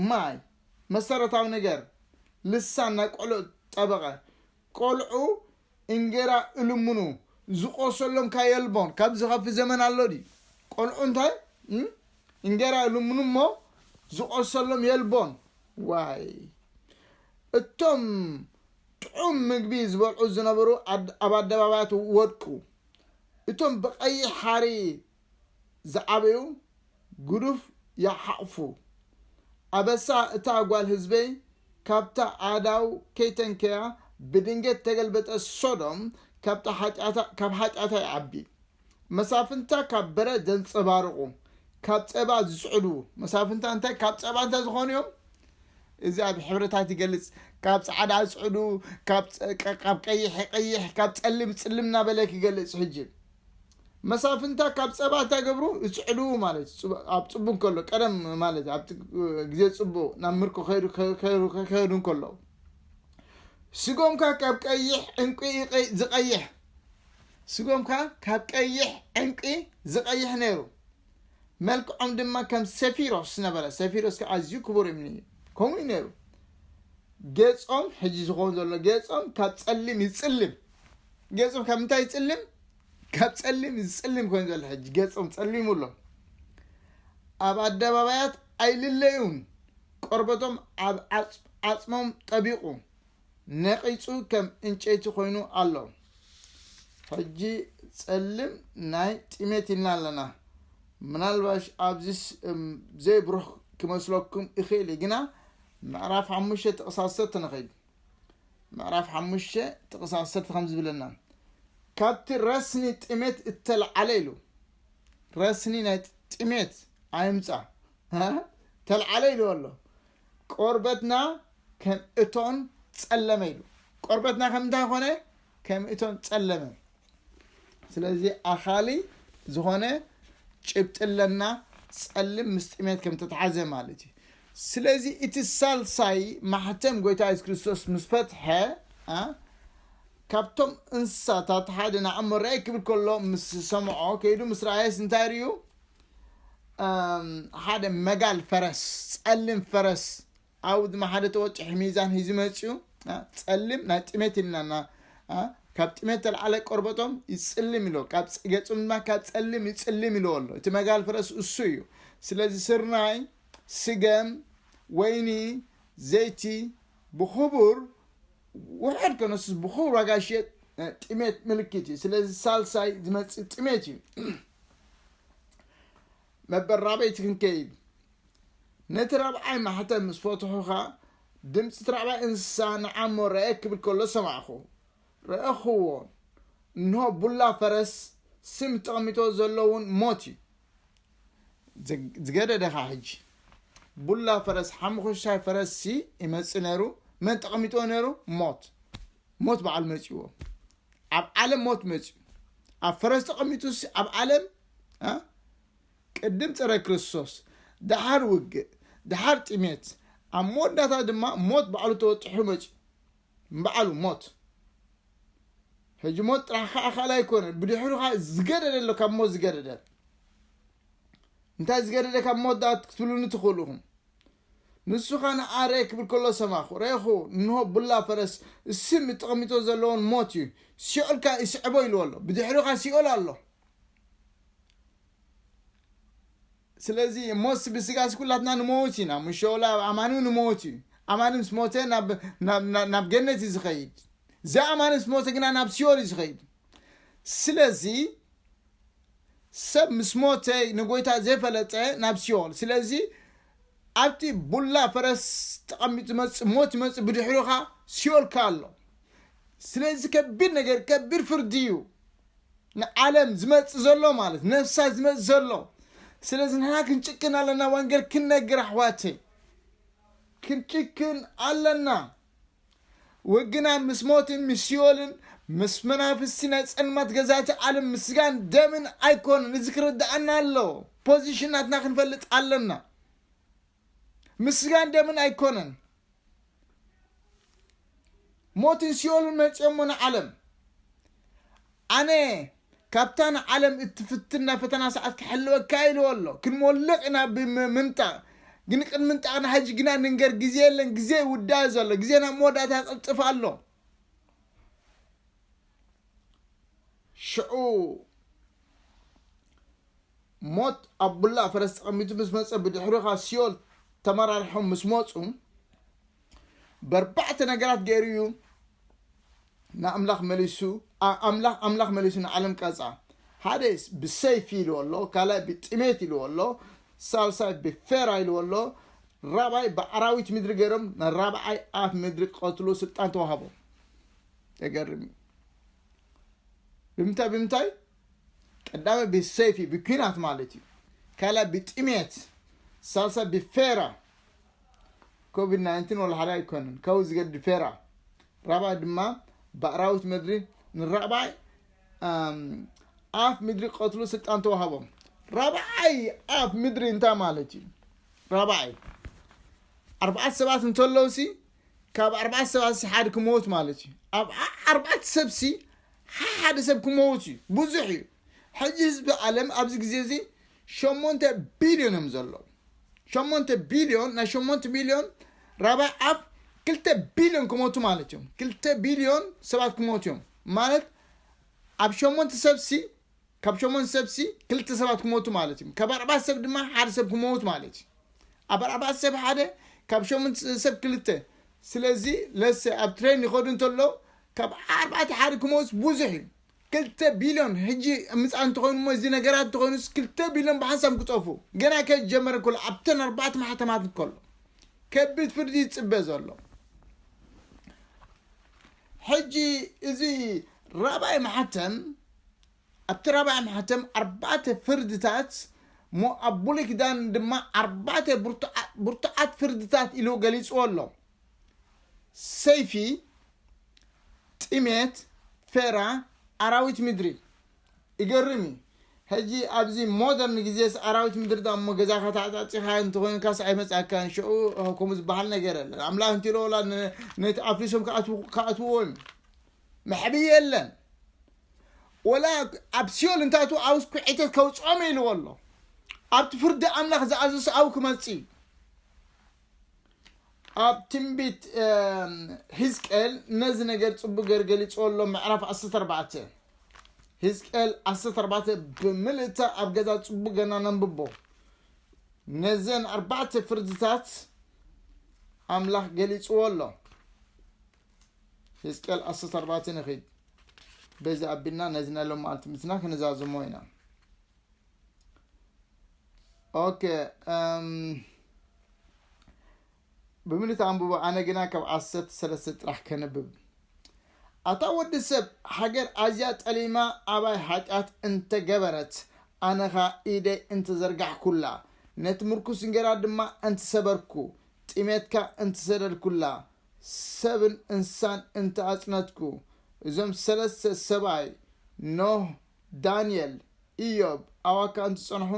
ማይ መሰረታዊ ነገር ልሳን ናይ ቆልዑ ጠበቐ ቆልዑ እንጌራ እልምኑ ዝቆሰሎም ካየልቦን ካብ ዝኸፊ ዘመን ኣሎ ድዩ ቆልዑ እንታይ እንጌራ እልምኑ እሞ ዝቆሰሎም የልቦን ዋይ እቶም ጥዑም ምግቢ ዝበልዑ ዝነበሩ ኣብ ኣደባባያት ወድቁ እቶም ብቀይሕ ሓሪ ዝዓበዩ ግዱፍ ይሓቕፉ ኣበሳ እታ ጓል ህዝበይ ካብታ ኣእዳው ከይተንከያ ብድንገት ተገልበጠ ሶዶም ካብታ ሓጢኣታ ካብ ሓጢኣታ ይዓቢ መሳፍንታ ካብ በረድ ዘንጸባርቑ ካብ ጸባ ዝጽዕዱ መሳፍንታ እንታይ ካብ ጸባ እንታይ ዝኾኑ እዮም እዚ ኣብ ሕብረታት ይገልጽ ካብ ጻዕዳ ጽዕዱ ካብ ቀይሕ ቀይሕ ካብ ጸልም ጽልም እናበለ ክገልጽ ሕጂ መሳፍንታ ካብ ፀባ እንታይ ገብሩ ይፅዕዱ ማለት እዩ ኣብ ፅቡ እንከሎ ቀደም ማለት እዩ ኣብቲ ግዜ ፅቡ ናብ ምርኮ ከይዱ እንከለዉ ስጎምካ ካብ ቀይሕ ዕንቂ ዝቀይሕ ስጎምካ ካብ ቀይሕ ዕንቂ ዝቀይሕ ነይሩ መልክዖም ድማ ከም ሰፊሮስ ነበረ ሰፊሮስ ከዓ ኣዝዩ ክቡር እምኒ እዩ ከምኡ እዩ ነይሩ ጌፆም ሕጂ ዝኸውን ዘሎ ጌፆም ካብ ፀሊም ይፅልም ገጹ ካብ ምንታይ ይጽልም ካብ ጸሊም ዝጽልም ኮይኑ ዘሎ ሕጂ ገጾም ጸሊሙ ኣሎ ኣብ ኣደባባያት ኣይልለዩን ቆርበቶም ኣብ ዓጽሞም ጠቢቑ ነቒጹ ከም እንጨይቲ ኮይኑ ኣሎ ሕጂ ጸልም ናይ ጥሜት ኢልና ኣለና ምናልባሽ ኣብዚ ዘይብሩህ ክመስለኩም ይኽእል ግና ምዕራፍ ሓሙሽተ ጥቕሳሰ ተነኸይድ ምዕራፍ ሓሙሽተ ጥቕስ ዓሰርተ ከም ዝብለና ካብቲ ረስኒ ጥሜት እተልዓለ ኢሉ ረስኒ ናይ ጥሜት ኣይምፃ ተልዓለ ኢሉ ኣሎ ቆርበትና ከም እቶን ጸለመ ኢሉ ቆርበትና ከም እንታይ ኮነ ከም እቶን ጸለመ ስለዚ ኣኻሊ ዝኾነ ጭብጢ ኣለና ጸልም ምስ ጥሜት ከም ተተሓዘ ማለት እዩ ስለዚ እቲ ሳልሳይ ማሕተም ጎይታ የሱስ ክርስቶስ ምስ ፈትሐ ካብቶም እንስሳታት ሓደ ንኣሞ ርኣይ ክብል ከሎ ምስ ሰምዖ ከይዱ ምስ ረኣየስ እንታይ ርዩ ሓደ መጋል ፈረስ ጸልም ፈረስ ኣውድማ ሓደ ተወጭሒ ሚዛን ሂዙ መጺኡ ጸሊም ናይ ጥሜት ኢልናና ካብ ጥሜት ተልዓለ ቆርበቶም ይጽልም ኢሎ ካብ ገጹም ድማ ካብ ጸልም ይጽልም ኢልዎ ኣሎ እቲ መጋል ፍረስ እሱ እዩ ስለዚ ስርናይ ስገም ወይኒ ዘይቲ ብክቡር ውሕድ ከነሱስ ብክቡር ዋጋ ይሽየጥ ጥሜት ምልክት እዩ ስለዚ ሳልሳይ ዝመፅእ ጥሜት እዩ መበራበይቲ ክንከይድ ነቲ ራብዓይ ማሕተም ምስ ፈትሑ ኸኣ ድምፂ እቲ ራብዓይ እንስሳ ንዓሞ ረኤ ክብል ከሎ ሰማዕኹ ረኤኽዎ እንሆ ቡላ ፈረስ ስም ተቐሚጦ ዘሎ እውን ሞት እዩ ዝገደደ ኸኣ ሕጂ ቡላ ፈረስ ሓሙኽሻይ ፈረስ ሲ ይመፅእ ነይሩ መን ተቐሚጦ ነይሩ ሞት ሞት በዓል መፅዎ ኣብ ዓለም ሞት መፅዩ ኣብ ፈረስ ተቐሚጡስ ኣብ ዓለም ቅድም ፀረ ክርስቶስ ደሓር ውግእ ደሓር ጥሜት ኣብ መወዳእታ ድማ ሞት ባዕሉ ተወጢሑ መፅዩ ንበዓሉ ሞት ሕጂ ሞት ጥራሕ ከዓ ካልእ ኣይኮነን ብድሕሩ ከዓ ዝገደደ ኣሎ ካብ ሞት ዝገደደ እንታይ ዝገደደ ካብ ሞት ዳኣ ክትብሉኒ ትኽእሉ ኢኹም ንሱ ከዓ ንኣረ ክብል ከሎ ሰማኹ ረኹ እንሆ ቡላ ፈረስ ስም ተቐሚጦ ዘለዎን ሞት እዩ ሲኦል ከዓ ይስዕቦ ኢልዎ ኣሎ ብድሕሩ ከዓ ሲኦል ኣሎ ስለዚ ሞት ብስጋስ ኩላትና ንመውት ኢና ምሸውላ ኣማን ንመውት እዩ ኣማን ምስ ሞተ ናብ ገነት እዩ ዝኸይድ ዘኣማን ምስ ሞተ ግና ናብ ሲኦል እዩ ዝኸይድ ስለዚ ሰብ ምስ ሞተ ንጎይታ ዘይፈለጠ ናብ ሲኦል ስለዚ ኣብቲ ቡላ ፈረስ ተቐሚጡ ዝመፅእ ሞት ይመፅእ ብድሕርኻ ሲኦልካ ኣሎ ስለዚ ከቢድ ነገር ከቢድ ፍርዲ እዩ ንዓለም ዝመጽእ ዘሎ ማለት ነፍሳ ዝመጽእ ዘሎ ስለዚ ንሕና ክንጭክን ኣለና ወንጌል ክንነግር ኣሕዋተይ ክንጭክን ኣለና ወግና ምስ ሞትን ምስ ሲኦልን ምስ መናፍስቲ ናይ ጸልማት ገዛእቲ ዓለም ምስ ስጋን ደምን ኣይኮነን እዚ ክርድኣና ኣለዎ ፖዚሽን ናትና ክንፈልጥ ኣለና ምስጋን ደምን ኣይኮነን ሞትን ሲኦልን መጽኦሞ ንዓለም ኣነ ካብታ ንዓለም እትፍትን ናይ ፈተና ሰዓት ክሕልወካ ኢልዎ ኣሎ ክንሞልቕ ኢና ብምንጣቕ ግን ቅድሚ ምንጣቕ ንሓጂ ግና ንንገር ግዜ የለን ግዜ ይውዳእ ዘሎ ግዜ ናብ መወዳእታ ቅልጥፍ ኣሎ ሽዑ ሞት ኣብ ቡላ ፈረስ ተቐሚጡ ምስ መጸ ብድሕሪኡ ካብ ሲኦል ተመራሪሖም ምስ መጹ በርባዕተ ነገራት ገይሩ እዩ ንኣምላኽ መሊሱ ኣምላኽ ኣምላኽ መሊሱ ንዓለም ቀጻ ሓደ ብሰይፊ ኢልዎ ኣሎ ካልኣይ ብጥሜት ኢልዎ ኣሎ ሳልሳይ ብፌራ ኢልዎ ኣሎ ራብዓይ ብኣራዊት ምድሪ ገይሮም ንራብዓይ ኣፍ ምድሪ ክቐትሉ ስልጣን ተዋሃቦም የገርም እዩ ብምንታይ ብምንታይ ቀዳማይ ብሰይፊ ብኲናት ማለት እዩ፣ ካልኣይ ብጥሜት፣ ሳልሳይ ብፌራ፣ ኮቪድ ናይንቲን ወላ ሓደ ኣይኮነን ካብኡ ዝገድድ ፌራ፣ ራብዓይ ድማ ብኣራዊት ምድሪ ንራብዓይ ኣፍ ምድሪ ቀትሉ ስልጣን ተዋሃቦም። ራብዓይ ኣፍ ምድሪ እንታይ ማለት እዩ? ራብዓይ ኣርባዕተ ሰባት እንተለውሲ ካብ ኣርባዕተ ሰባትሲ ሓዲ ክመውት ማለት እዩ ኣብ ኣርባዕተ ሰብሲ ሓደ ሰብ ክመውት እዩ ብዙሕ እዩ ሕጂ ህዝቢ ዓለም ኣብዚ ግዜ እዚ ሸሞንተ ቢልዮን እዮም ዘለዉ ሸሞንተ ቢልዮን ናይ ሸሞንተ ሚልዮን ራባይ ኣፍ ክልተ ቢልዮን ክመቱ ማለት እዮም ክልተ ቢልዮን ሰባት ክመቱ እዮም ማለት ኣብ ሸሞንተ ሰብሲ ካብ ሸሞን ሰብሲ ክልተ ሰባት ክሞቱ ማለት እዩ ካብ ኣርባዕተ ሰብ ድማ ሓደ ሰብ ክመውት ማለት እዩ ኣብ ኣርባዕተ ሰብ ሓደ ካብ ሸሞን ሰብ ክልተ ስለዚ ለሰ ኣብ ትሬን ይኸዱ እንተሎ ካብ ኣርባዕተ ሓደ ክመውት ብዙሕ እዩ ክልተ ቢልዮን ሕጂ ምፃ እንተኾይኑ እሞ እዚ ነገራት እንተኾይኑስ ክልተ ቢልዮን ብሓንሳብ ክጠፉ ገና ከጀመረ ከሎ ኣብተን ኣርባዕተ ማሕተማት ከሎ ከቢድ ፍርዲ ይፅበ ዘሎ ሕጂ እዚ ራብዓይ ማሕተም ኣብቲ ራብዓይ ማሕተም ኣርባዕተ ፍርድታት እሞ ኣብ ብሉይ ኪዳን ድማ ኣርባዕተ ብርቱዓት ፍርድታት ኢሉ ገሊጽዎ ኣሎ ሰይፊ ጥሜት ፌራ ኣራዊት ምድሪ ይገርም እዩ ሕጂ ኣብዚ ሞደርን ግዜስ ኣራዊት ምድሪ ዶ እሞ ገዛኻ ተዓጻጺኻ እንተኾይንካስ ኣይመጻካን ሸኡ ከምኡ ዝበሃል ነገር የለን ኣምላኽ እንቲሎ ወላ ነቲ ኣፍሪሶም ክኣትውዎ እዮም መሕብኢ የለን ወላ ኣብ ሲኦል እንታቱ ኣውስ ኩዒተት ከውፅኦም ኢልዎ ኣሎ ኣብቲ ፍርዲ ኣምላኽ ዝኣዘሰ ኣው ክመፅእ እዩ ኣብ ትንቢት ህዝቅኤል ነዚ ነገር ጽቡቅ ገር ገሊጽዎ ኣሎ ምዕራፍ 14 ህዝቅኤል 14 ብምልእታ ኣብ ገዛ ጽቡቅ ገና ነንብቦ ነዘን ኣርባዕተ ፍርድታት ኣምላኽ ገሊጽዎ ኣሎ ህዝቅኤል 14 ንኺድ በዚ ኣቢልና ነዚ ናይ ሎሚ መዓልቲ ምትና ክንዛዝሞ ኢና ኦኬ እም፣ ብምልት ኣንብቦ ኣነ ግና ካብ ዓሰርተ ሰለስተ ጥራሕ ከንብብ ኣታ ወዲ ሰብ ሃገር ኣዝያ ጠሊማ ኣባይ ሓጢኣት እንተገበረት ኣነኻ ኢደይ እንተዘርጋሕኩላ ነቲ ምርኩስ እንጌራ ድማ እንትሰበርኩ ጥሜትካ እንትሰደድኩላ ሰብን እንስሳን እንተኣጽነትኩ እዞም ሰለስተ ሰብኣይ ኖህ ዳንኤል፣ እዮብ፣ ኣዋካን ዝጸንሑ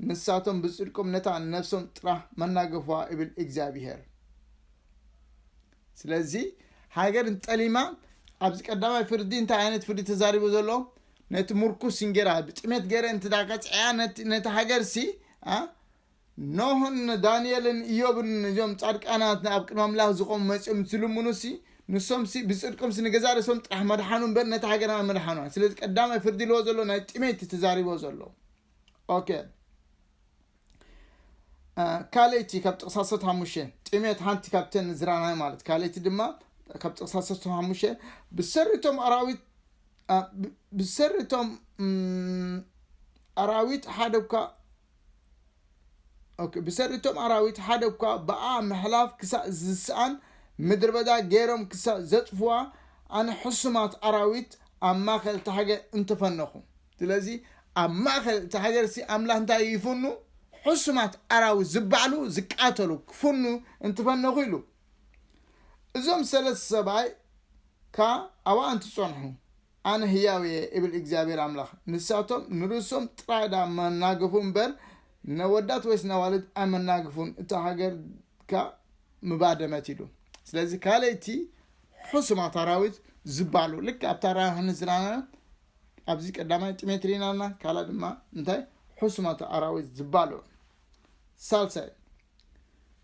ንሳቶም ብጽድቆም ነታ ንነፍሶም ጥራህ መናገፍዋ እብል እግዚኣብሄር። ስለዚ ሃገር እንጠሊማ ኣብዚ ቀዳማይ ፍርዲ እንታይ ዓይነት ፍርዲ ተዛሪቡ ዘሎ ነቲ ምርኩስ እንጌራ ብጥሜት ገረ እንተ ቀጽዐያ ነቲ ሃገር ሲ ኖህን ዳንኤልን እዮብን እዞም ጻድቃናት ኣብ ቅድሚ ኣምላኽ ዝቆሙ መጺኦም ዝልምኑሲ ንሶምሲ ብጽድቆምሲ ንገዛእ ርእሶም ጥራሕ መድሓኑ እምበር ነታ ሃገር ኣመድሓኗን ስለዚ ቀዳማይ ፍርዲ ልዎ ዘሎ ናይ ጥሜት ተዛሪቦ ዘሎ ኦኬ ካልእቲ ካብ ጥቕሳ ሰት ሓሙሽተ ጥሜት ሓንቲ ካብተን ዝራናይ ማለት ካልእቲ ድማ ካብ ጥቕሳ ሰት ሓሙሽተ ብሰሪቶም ኣራዊት ብሰሪቶም ኣራዊት ሓደ እኳ ኦኬ ብሰሪ እቶም ኣራዊት ሓደ እኳ ብኣ ምሕላፍ ክሳእ ዝስኣን ምድሪ በዳ ገይሮም ክሳእ ዘጥፍዋ ኣነ ሕሱማት ኣራዊት ኣብ ማእኸል እታ ሃገር እንተፈነኹ ስለዚ ኣብ ማእኸል እታ ሃገር ሲ ኣምላኽ እንታይ ይፍኑ ሕሱማት ኣራዊት ዝበዓሉ ዝቃተሉ ክፍኑ እንትፈነኹ ኢሉ እዞም ሰለስተ ሰብኣይ ከ ኣብኣ እንትፀንሑ ኣነ ህያው እየ እብል እግዚኣብሔር ኣምላኽ ንሳቶም ንርእሶም ጥራይ ድኣ መናገፉ እምበር ነወዳት ወይስ ነዋልድ ኣይመናገፉን እታ ሃገር ከ ምባደመት ኢሉ ስለዚ ካልእቲ ሕሱማት ኣራዊት ዝባሉ ልክ ኣብታ ራ ዮሃንስ ዝራና ኣብዚ ቀዳማይ ጢሜትሪ ናና ካልኣ ድማ እንታይ ሕሱማት ኣራዊት ዝባሉ ሳልሳይ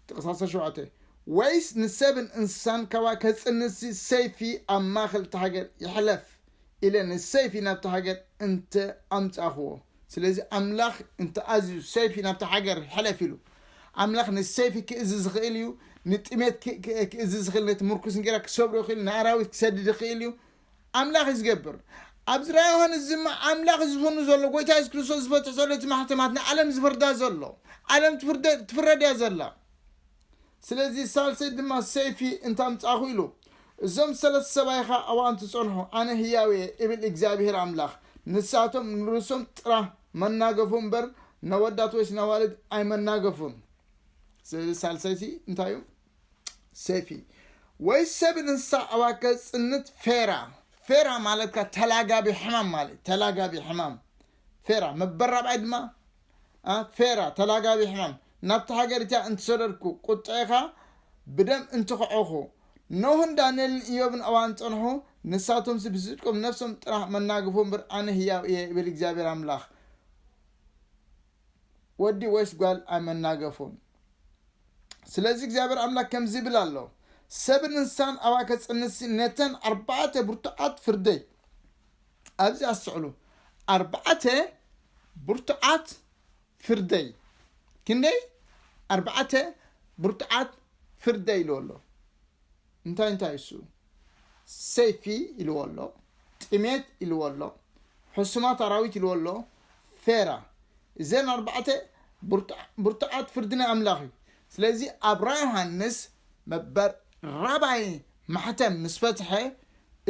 ጥቕስ ዓሰርተ ሸውዓተ፣ ወይስ ንሰብን እንስሳን ካብኣ ከጽንትሲ ሰይፊ ኣብ ማእከል እታ ሃገር ይሕለፍ ኢለ ንሰይፊ ናብታ ሃገር እንተ ኣምጻእኩዎ። ስለዚ ኣምላኽ እንተ ኣዝዩ ሰይፊ ናብታ ሃገር ሕለፍ ኢሉ፣ ኣምላኽ ንሰይፊ ክእዝዝ ይኽእል እዩ፣ ንጥሜት ክእዝዝ ይኽእል፣ ነቲ ምርኩስ እንጌራ ክሰብሮ ይኽእል፣ ንኣራዊት ክሰድድ ይኽእል እዩ፣ ኣምላኽ እዩ ዝገብር። ኣብዚ ራእይ ዮሃንስ እዚ እማ ኣምላኽ እዩ ዝፍኑ ዘሎ፣ ጎይታ የሱስ ክርስቶስ ዝፈትሖ ዘሎ እቲ ማሕተማት ንዓለም ዝፍርዳ ዘሎ፣ ዓለም ትፍርደ ትፍረድ እያ ዘላ። ስለዚ ሳልሰይ ድማ ሰይፊ እንተ ኣምጻእኹ ኢሉ፣ እዞም ሰለስተ ሰብኣይ ኸኣ ኣብኡ ኣንት ጸንሑ፣ ኣነ ህያው እየ እብል እግዚኣብሄር ኣምላኽ። ንሳቶም ንርእሶም ጥራህ መናገፉ እምበር፣ ነወዳት ወይስ ነዋልድ ኣይመናገፉን። ስለዚ ሳልሰይቲ እንታይ እዩ? ሴፊ ወይ ሰብ እንስሳ ኣዋከ ጽንት ፌራ ፌራ ማለት ካ ተላጋቢ ሕማም ማለት ተላጋቢ ሕማም ፌራ መበራብዓይ ድማ ፌራ ተላጋቢ ሕማም ናብቲ ሃገር እቲያ እንትሰደድኩ ቁጥዕኻ ብደም እንትኸዖኹ ኖህን ዳንኤልን እዮብን እዋን ጸንሑ ንሳቶምሲ ብስጭቆም ነፍሶም ጥራሕ መናገፉ እምበር ኣነ ህያው እየ ይብል እግዚኣብሔር ኣምላኽ ወዲ ወይስ ጓል ኣይመናገፉን። ስለዚ እግዚኣብሔር ኣምላክ ከምዚ ይብል ኣሎ፣ ሰብን እንስሳን ኣብኣ ከጽንሲ ነተን ኣርባዕተ ብርቱዓት ፍርደይ፣ ኣብዚ ኣስተዕሉ፣ ኣርባዕተ ብርቱዓት ፍርደይ፣ ክንደይ ኣርባዕተ ብርቱዓት ፍርደይ ኢሉ ኣሎ። እንታይ እንታይ እሱ ሰይፊ ኢልዎ ኣሎ ጥሜት ኢልዎ ኣሎ ሕሱማት ኣራዊት ኢልዎ ኣሎ ፌራ እዘን ኣርባዕተ ብርቱዓት ፍርዲ ናይ ኣምላኽ እዩ ስለዚ ኣብ ራ ዮሃንስ መበር ራባይ ማሕተም ምስ ፈትሐ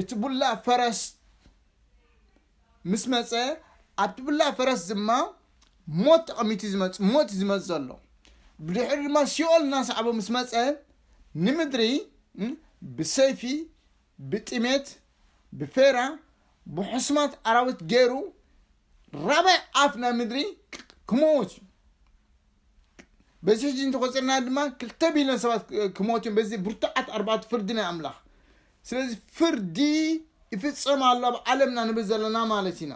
እቲ ቡላ ፈረስ ምስ መጸ ኣብቲ ብላ ፈረስ ድማ ሞት ተቐሚቱ ዝመጽ ሞት ዝመጽ ዘሎ ብድሕሪ ድማ ሲኦል እናሰዓቦ ምስ መጸ ንምድሪ ብሰይፊ ብጥሜት ብፌራ ብሕስማት ኣራዊት ገይሩ ራባይ ኣፍ ናይ ምድሪ ክመውት እዩ በዚ ሕጂ እንተቆፅርና ድማ ክልተ ቢልዮን ሰባት ክሞት እዮም በዚ ብርቱዓት ኣርባዕቱ ፍርዲ ናይ ኣምላኽ ስለዚ ፍርዲ ይፍጸም ኣሎ ኣብ ዓለምና ንብል ዘለና ማለት ኢና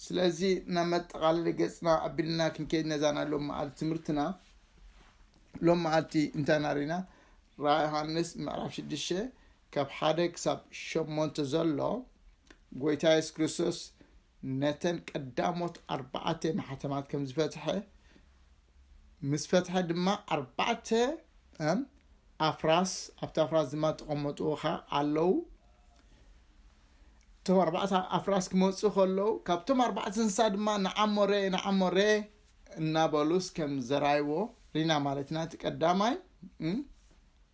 ስለዚ ናብ መጠቓለሊ ገፅና ኣቢልና ክንከይድ ነዛ ናይ ሎም መዓልቲ ትምህርትና ሎም መዓልቲ እንታይ ናሪና ራ ዮሃንስ ምዕራፍ ሽዱሽተ ካብ ሓደ ክሳብ ሸሞንተ ዘሎ ጎይታ የሱስ ክርስቶስ ነተን ቀዳሞት ኣርባዕተ ማሕተማት ከም ዝፈትሐ፣ ምስ ፈትሐ ድማ ኣርባዕተ እም ኣፍራስ ኣብቲ ኣፍራስ ድማ ተቐመጡ ኸ ኣለዉ። እቶም ኣርባዕተ ኣፍራስ ክመፁ ከለዉ ካብቶም ኣርባዕተ እንስሳ ድማ ንዓሞረ ንዓሞረ እናበሉስ ከም ዘራይዎ ሪና ማለት ኢና እቲ ቀዳማይ እም፣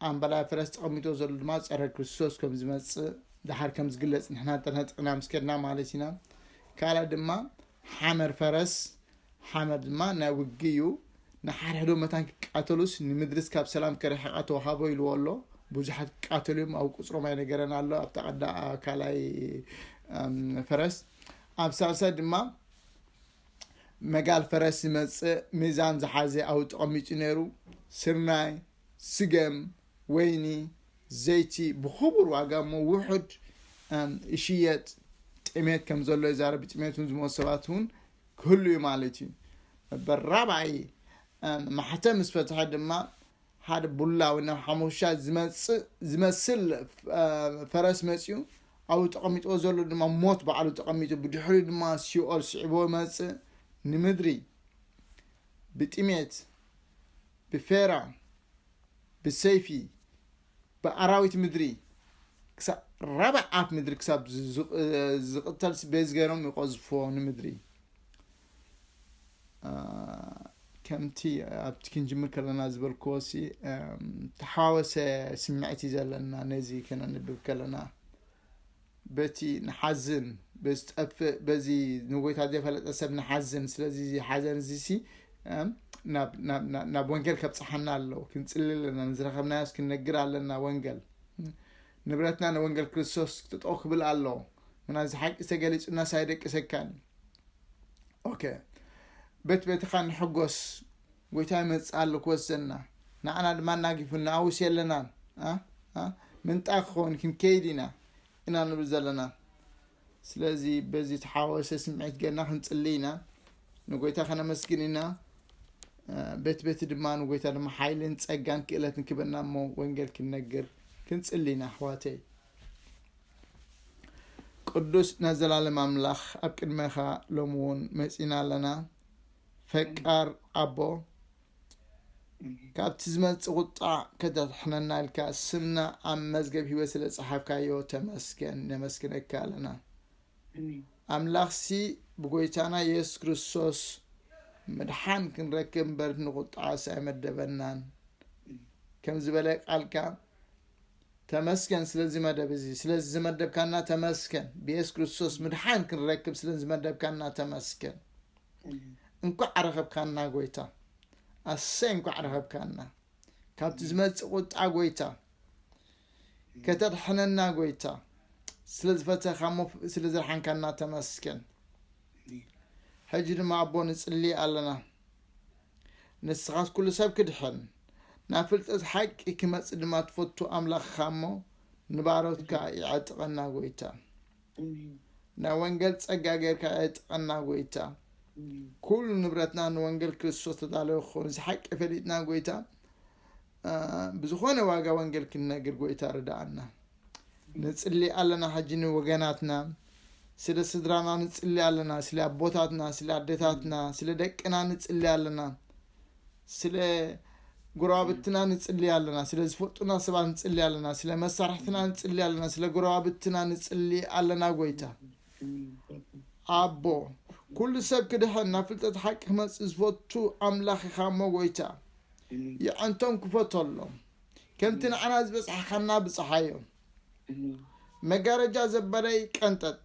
ኣምበላይ ፈረስ ተቐሚጦ ዘሎ ድማ ጸረ ክርስቶስ ከም ዝመጽእ ድሓር ከም ዝግለጽ ንሕና ተነጥቕና ምስ ከድና ማለት ኢና ካልእ ድማ ሓመር ፈረስ ሓመር ድማ ናይ ውግእ እዩ ንሓድሕዶ መታን ክቃተሉስ ንምድርስ ካብ ሰላም ከረሕቃ ተዋሃቦ ኢልዎ ኣሎ ብዙሓት ክቃተሉ እዮም ኣብ ቁፅሮም ኣይነገረን ኣሎ ኣብ ተቐዳ ካልኣይ ፈረስ ኣብ ሳልሳይ ድማ መጋል ፈረስ ዝመፅእ ሚዛን ዝሓዘ ኣብኡ ተቐሚጡ ነይሩ ስርናይ ስገም፣ ወይኒ፣ ዘይቲ ብኽቡር ዋጋ እሞ ውሑድ ይሽየጥ። ጥሜት ከም ዘሎ ይዛረብ። ብጥሜት እውን ዝሞቱ ሰባት እውን ክህሉ እዩ ማለት እዩ። ነበር ራብዓይ ማሕተም ምስ ፈትሐ ድማ ሓደ ቡላዊ ናብ ሓሙሻ ዝመስል ፈረስ መፅኡ ኣብኡ ተቐሚጥዎ ዘሎ ድማ ሞት ባዕሉ ተቐሚጡ ብድሕሪኡ ድማ ሲኦል ስዒቦ መፅእ ንምድሪ ብጥሜት ብፌራ፣ ብሰይፊ፣ ብኣራዊት ምድሪ ክሳብ ራብዕ ኣፍ ምድሪ ክሳብ ዝቕተልሲ ቤዝ ገይሮም ይቐዝፎ ንምድሪ ከምቲ ኣብቲ ክንጅምር ከለና ዝበልክዎሲ ተሓዋወሰ ስምዒት እዩ ዘለና ነዚ ከነንብብ ከለና በቲ ንሓዝን በዝጠፍእ በዚ ንጎይታ ዘይፈለጠ ሰብ ንሓዝን ስለዚ እዚ ሓዘን እዚሲ ናብ ወንጌል ከብፅሓና ኣለዎ ክንፅሊ ኣለና ንዝረኸብናዮስ ክንነግር ኣለና ወንጌል ንብረትና ንወንጌል ክርስቶስ ጥጠው ክብል ኣለዎ ምና እዚ ሓቂ ዝተገሊፁና ሳይደቅሰካን ኦኬ በት በትኻ ንሕጎስ ጎይታ ይመጽእ ኣሎ ክወስደና ንዓና ድማ ኣናጊፉና ኣውስ የለናን ኣ ምንጣ ክኸውን ክንከይድ ኢና ኢና ንብል ዘለና ስለዚ በዚ ተሓዋወሰ ስምዒት ገና ክንጽሊ ኢና ንጎይታ ከነመስግን ኢና ቤት ቤት ድማ ንጎይታ ድማ ሓይልን ጸጋን ክእለትን ክበና እሞ ወንጌል ክንነግር ክንጽሊ ኢና ኣሕዋተይ ቅዱስ ናይ ዘላለም ኣምላኽ ኣብ ቅድመኻ ሎሚ እውን መጺና ኣለና ፈቃር ኣቦ ካብቲ ዝመጽእ ቁጣዕ ከተድሕነና ኢልካ ስምና ኣብ መዝገብ ህይወት ስለ ጸሓፍካዮ ተመስገን ነመስግነካ ኣለና ኣምላኽሲ ብጎይታና የሱስ ክርስቶስ ምድሓን ክንረክብ እምበር ንቁጣዓስ ኣይመደበናን ከም ዝበለ ቃልካ ተመስገን ስለዚ መደብ እዚ ስለዚ ዝመደብካና ተመስገን ብየሱስ ክርስቶስ ምድሓን ክንረክብ ስለዝመደብካና ተመስገን እንኳዕ ኣረኸብካና ጎይታ ኣሰይ እንኳዕ ረኸብካና ካብቲ ዝመፅእ ቁጣ ጎይታ ከተድሕነና ጎይታ ስለ ዝፈተኻ እሞ ስለ ዘድሓንካና ተመስገን ሕጂ ድማ ኣቦ ንፅሊ ኣለና ንስኻት ኩሉ ሰብ ክድሕን ናብ ፍልጠት ሓቂ ክመፅእ ድማ ትፈቱ ኣምላኽኻ እሞ ንባሮትካ ይዕጥቐና ጎይታ ናይ ወንገል ጸጋ ገርካ ዕጠቀና ጎይታ ኩሉ ንብረትና ንወንገል ክርስቶስ ተዳለወ ክኸውን ዝሓቂ ፈሊጥና ጎይታ ብዝኾነ ዋጋ ወንገል ክንነግር ጎይታ ርዳኣና ንጽሊ ኣለና ሕጂ ንወገናትና ስለ ስድራና ንጽሊ ኣለና ስለ ኣቦታትና ስለ ኣደታትና ስለ ደቅና ንጽሊ ኣለና ስለ ጎረባብትና ንጽሊ ኣለና ስለ ዝፈልጡና ሰባት ንጽሊ ኣለና ስለ መሳርሕትና ንጽሊ ኣለና ስለ ጎረባብትና ንጽሊ ኣለና ጎይታ ኣቦ ኩሉ ሰብ ክድሕን ናብ ፍልጠት ሓቂ ክመፅእ ዝፈቱ ኣምላኽ ኢኻ እሞ ጎይታ የዕንቶም ክፈተሎም ከምቲ ንዓና ዝበፅሓኻና ብፅሓዮም መጋረጃ ዘበለይ ቀንጠጥ።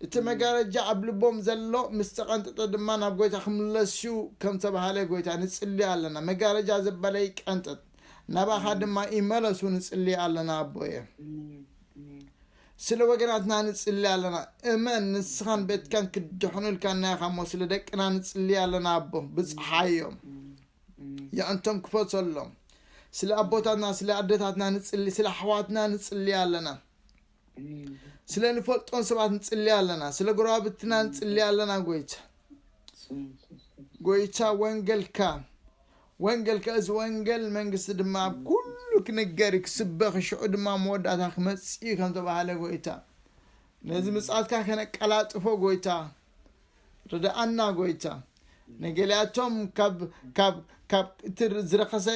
እቲ መጋረጃ ኣብ ልቦም ዘሎ ምስ ተቐንጠጠ ድማ ናብ ጎይታ ክምለስ እዩ ከም ተባህለ ጎይታ ንጽሊ ኣለና መጋረጃ ዘበለይ ቀንጠጥ ናባኻ ድማ ይመለሱ ንጽሊ ኣለና ኣቦየ ስለ ወገናትና ንጽሊ ኣለና እመን ንስኻን ቤትካን ክድሕኑ ኢልካና ኢኻ እሞ ስለ ደቅና ንጽሊ ኣለና ኣቦ ብጽሓዮም የዕንቶም ክፈጸሎም ስለ ኣቦታትና ስለ ኣደታትና ንጽሊ ስለ ኣሕዋትና ንጽሊ ኣለና ስለ ንፈልጦን ሰባት ንጽሊ ኣለና ስለ ጎረባብትና ንጽሊ ኣለና ጎይታ ጎይታ ወንገልካ ወንገልካ እዚ ወንገል መንግስቲ ድማ ኣብ ኩሉ ክንገር እዩ ክስበኽ ሽዑ ድማ መወዳእታ ክመጽእ እዩ ከም ተባሃለ ጎይታ ነዚ ምጽኣትካ ከነቀላጥፎ ጎይታ ርድኣና ጎይታ ንገሊኣቶም ካብ ካብ ካብ እቲ ዝረኸሰ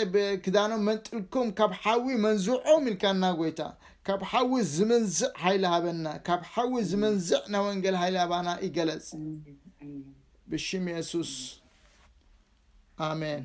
ክዳኖም መንጥልኩም ካብ ሓዊ መንዝዖም ኢልካና ጎይታ ካብ ሓዊ ዝመንዝዕ ሓይሊ ሃበና ካብ ሓዊ ዝመንዝዕ ናይ ወንጌል ሓይሊ ሃባና ይገለጽ ብሽም የሱስ ኣሜን